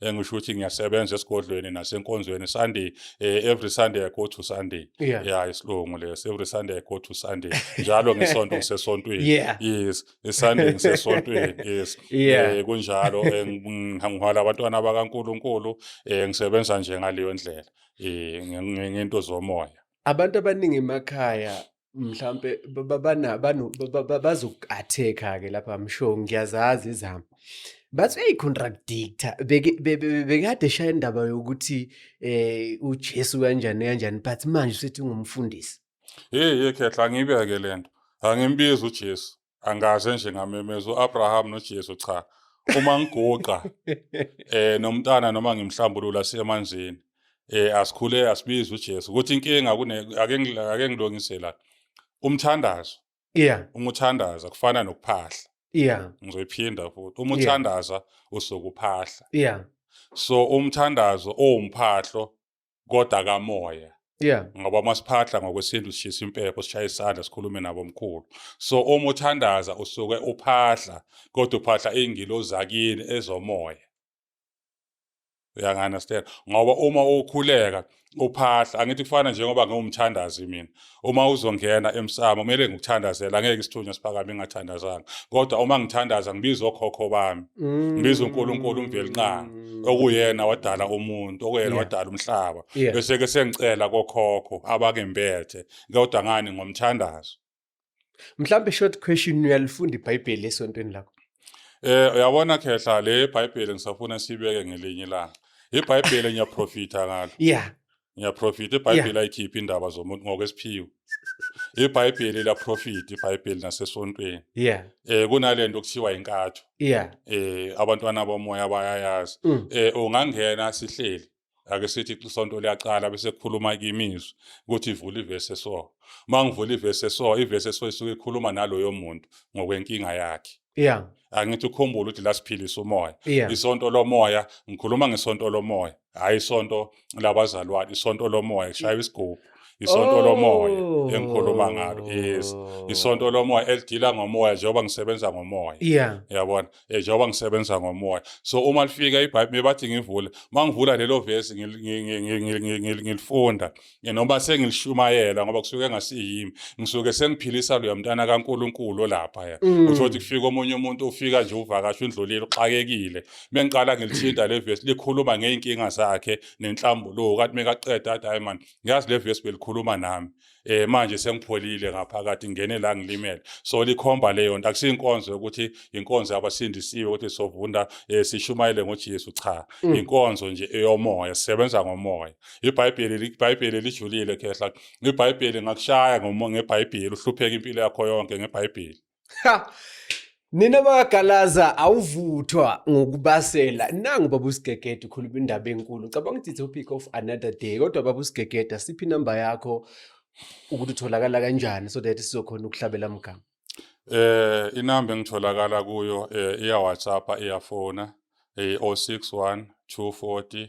engisho ukuthi ngiyasebenza esigodlweni nasenkonzweni sunday eh, every sunday i go to sunday yeah, yeah isilungu leso every sunday i go to sunday njalo ngesonto ngisesontweni yeah. yes isunday ngisesontweni yes yeah. eh, kunjalo eh, ngihwala abantwana abakaNkuluNkulu eh, ngisebenza nje ngaleyo ndlela eh, ngento zomoya abantu abaningi emakhaya mhlampe bazoku-attack-a ke lapha msho ngiyazazi izami bathi uyayi-contradictor bekade eshaya indaba yokuthi um ujesu kanjani kanjani but manje usethi ungumfundisi heyi ye khehla angiyibeke le nto angimbizi ujesu angikaze nje ngamemeza uAbraham noJesu cha uma ngiguqa eh nomntana noma ngimhlambulula siyemanzini eh asikhule asibiza uJesu ukuthi inkinga kune ake ake ngilungise la umthandazo yeah umuthandaza kufana nokuphahla yeah ngizoyiphinda futhi umuthandaza usokuphahla yeah so umthandazo owumphahlo kodwa kamoya yeah ngoba masiphahla ngokwesintu sishisa impepho sishaya isandla sikhulume nabo mkhulu so uma uthandaza usuke uphahla kodwa uphahla ingilo zakini ezomoya uyangi-understand ngoba uma ukhuleka uphahla angithi kufana njengoba ngiwumthandazi mina uma uzongena emsamo kumele ngikuthandazela ngeke isithunywa siphakame ngingathandazanga kodwa uma ngithandaza ngibiza okhokho bami mm. ngibiza uNkulunkulu umvelinqanga mm. okuyena wadala umuntu okuyena wadala umhlaba bese ke sengicela kokhokho abakembethe kodwa ngani ngomthandazo mhlambe short question uyalifunda iBhayibheli esontweni lakho eh uyabona khehla le iBhayibheli ngisafuna sibeke ngelinye ilanga iBhayibheli ngiyaprofita ngalo yeah ngiyaprofita ibhayibheli yeah. ayikhiphi indaba zomuntu ngokwesiphiwo ibhayibheli liyaprofita ibhayibheli nasesontweni yeah. eh kunale nto kuthiwa inkatho yeah. eh abantwana bomoya bayayazi mm. eh ungangena sihleli ake sithi isonto liyaqala bese kukhuluma imizwi ukuthi ivula ivesi eso uma ngivula ivesi eso ivesi eso isuke ikhuluma naloyo muntu ngokwenkinga yakhe yeah angithi ukhumbula ukuthi lasiphilisa umoya yeah. isonto lomoya ngikhuluma ngesonto lomoya hhayi isonto labazalwane isonto lomoya shaya isigubhu isonto lomoya oh. engikhuluma ngalo yes isonto lomoya elidila ngomoya njengoba ngisebenza ngomoya yeah yabona eh, njengoba ngisebenza ngomoya so uma lifika ibhayibheli bathi ngivule mangivula lelo verse ngilifunda noma sengilishumayela ngoba kusuke ngasiyimi ngisuke sengiphilisa loya mntana kaNkuluNkulu olapha ya mm. uthothi kufika omunye umuntu ufika nje uvakasha undlulile uxakekile bengiqala ngilithinta le verse likhuluma ngeinkinga zakhe nenhlambuluko kanti mekaqeda athi hayi man ngiyazi le verse belikhuluma nami eh manje sengipholile ngaphakathi ngene la ngilimele so likhomba leyo nto akusinkonzo ukuthi inkonzo abasindisiwe ukuthi sovunda eh, sishumayele ngoJesu cha mm. inkonzo nje eyomoya sisebenza ngomoya ibhayibheli ibhayibheli lijulile khehla ibhayibheli ngakushaya ngebhayibheli uhlupheka impilo yakho yonke ngebhayibheli nina bakagalaza awuvuthwa ngokubasela nangu baba usigegede ukhuluma indaba enkulu cabanga ukuthi topic of another day kodwa baba usigegede siphi inamba yakho ukuthi utholakala kanjani so that sizokhona ukuhlabela mgama eh inamba engitholakala kuyo eh, iya WhatsApp iyafona eh 061 240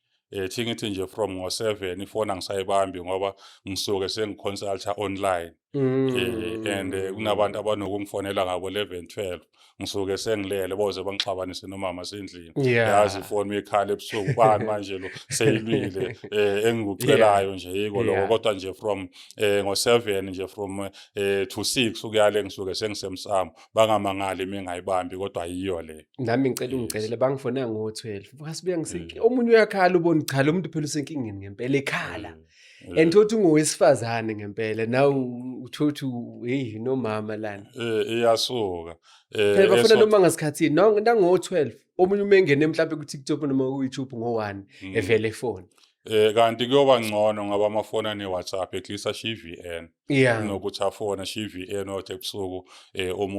eh thingithi nje from ngo7 ifona ngisayibambi ngoba ngisuke sengiconsulta online Mm. Eh, and eh, kunabantu abanokungifonela ngabo 11 12 ngisuke sengilele boze bangixabanise nomama sendlini Yeah. yazi ifoni uyikhala ebusuku bani manje lo seyilwile eh engikucelayo nje yiko lokho Yeah. kodwa nje from eh ngo7 nje from eh to 6 ukuyale ngisuke sengisemsamo bangamangali uma engayibambi kodwa yiyo le nami ngicela ungicelele bangifona ngo-12 bukasibuya ngisenkinga mm. omunye uyakhala ubona cha lo muntu phela usenkingeni ngempela ekhala mm. mm. and thothi ungowesifazane ngempela naw uthothi heyi nomama lana eh, iyasuka eh, phela bafuna noma ngasikhathini nango-12 omunye uma engene mhlawumbe ku-tiktok noma ku-youtube ngo-one evele efoni um kanti kuyoba ngcono ngoba amafoni ane-whatsapp eklisa shiye i-vn yeah. nokuthi afone shiye i-vn othi ebusuku um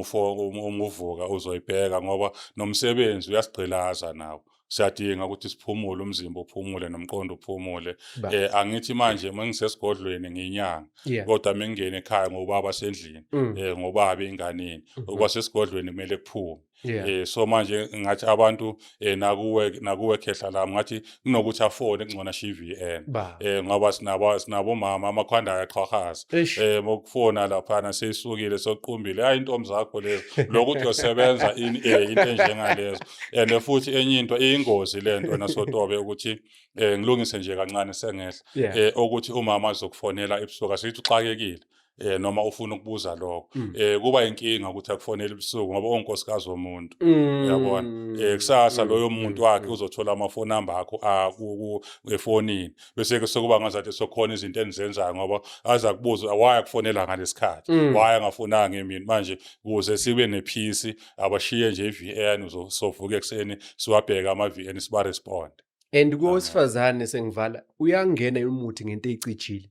umuvuka uzoyibheka ngoba nomsebenzi uyasigqilaza nawo siyadinga ukuthi siphumule umzimba uphumule nomqondo uphumule eh angithi manje mengisesigodlweni nginyanga kodwa mengingene ekhaya ngobaba sendlini mm. eh ngobaba inganeni mm-hmm. okwasesigodlweni kumele kuphume yeah. eh so manje ngathi abantu eh nakuwe nakuwe khehla la ngathi kunokuthi afone kungcona SheVN eh ngoba sinabo sinabo mama amakhwanda ayaqhwahaza eh mokufona lapha na seyisukile soqumbile hayi intombi zakho lezo lokhu uyosebenza in eh into enjengalezo and futhi enye into iyingozi lento nasotobe ukuthi eh ngilungise nje kancane sengehla eh ukuthi umama azokufonela ebusuku asithi uxakekile eh noma ufuna ukubuza lokho mm. eh kuba inkinga ukuthi akufonele ebusuku ngoba onkosikazi womuntu mm. yabona eh kusasa mm. loyo muntu wakhe uzothola ama phone number akho a ku efonini bese ke sokuba ngazathi sokhona izinto enzenzayo ngoba aza kubuza why akufonela ngalesikhathi why angafonanga emini manje kuze sibe ne peace abashiye nje iVN uzovuka ekseni siwabheka ama VN siba respond and kowesifazane sengivala uyangena umuthi ngento ecijile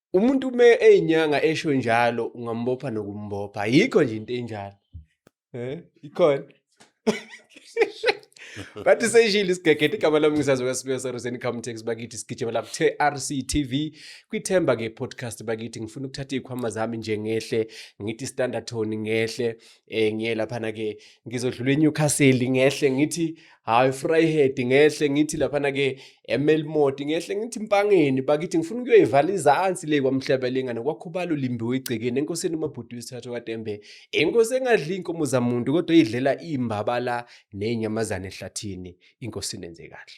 umuntu uma eyinyanga esho njalo ungambopha nokumbopha yikho nje into enjalo eh ikhona bathi seyishile isigegede igama lami ngisazi kwasibiyo saruseni comtex bakithi sigijimela ku-trc tv kwithemba ke podcast bakithi ngifuna ukuthatha iy'khwama zami nje ngehle ngithi standard tone ngehle um ngiye laphana-ke ngizodlula enewcastle ngehle ngithi hayi Vryhead ngehle ngithi laphana ke eMelmoti ngehle ngithi Mpangeni bakithi ngifuna ukuyoyivala izansi le kwamhlaba lengane kwakhubalo limbiwe igcekeni enkosini umabhuti wesithathu kaTembe inkosi engadli inkomo zamuntu kodwa idlela imbabala nenyamazane ehlathini inkosi nenze kahle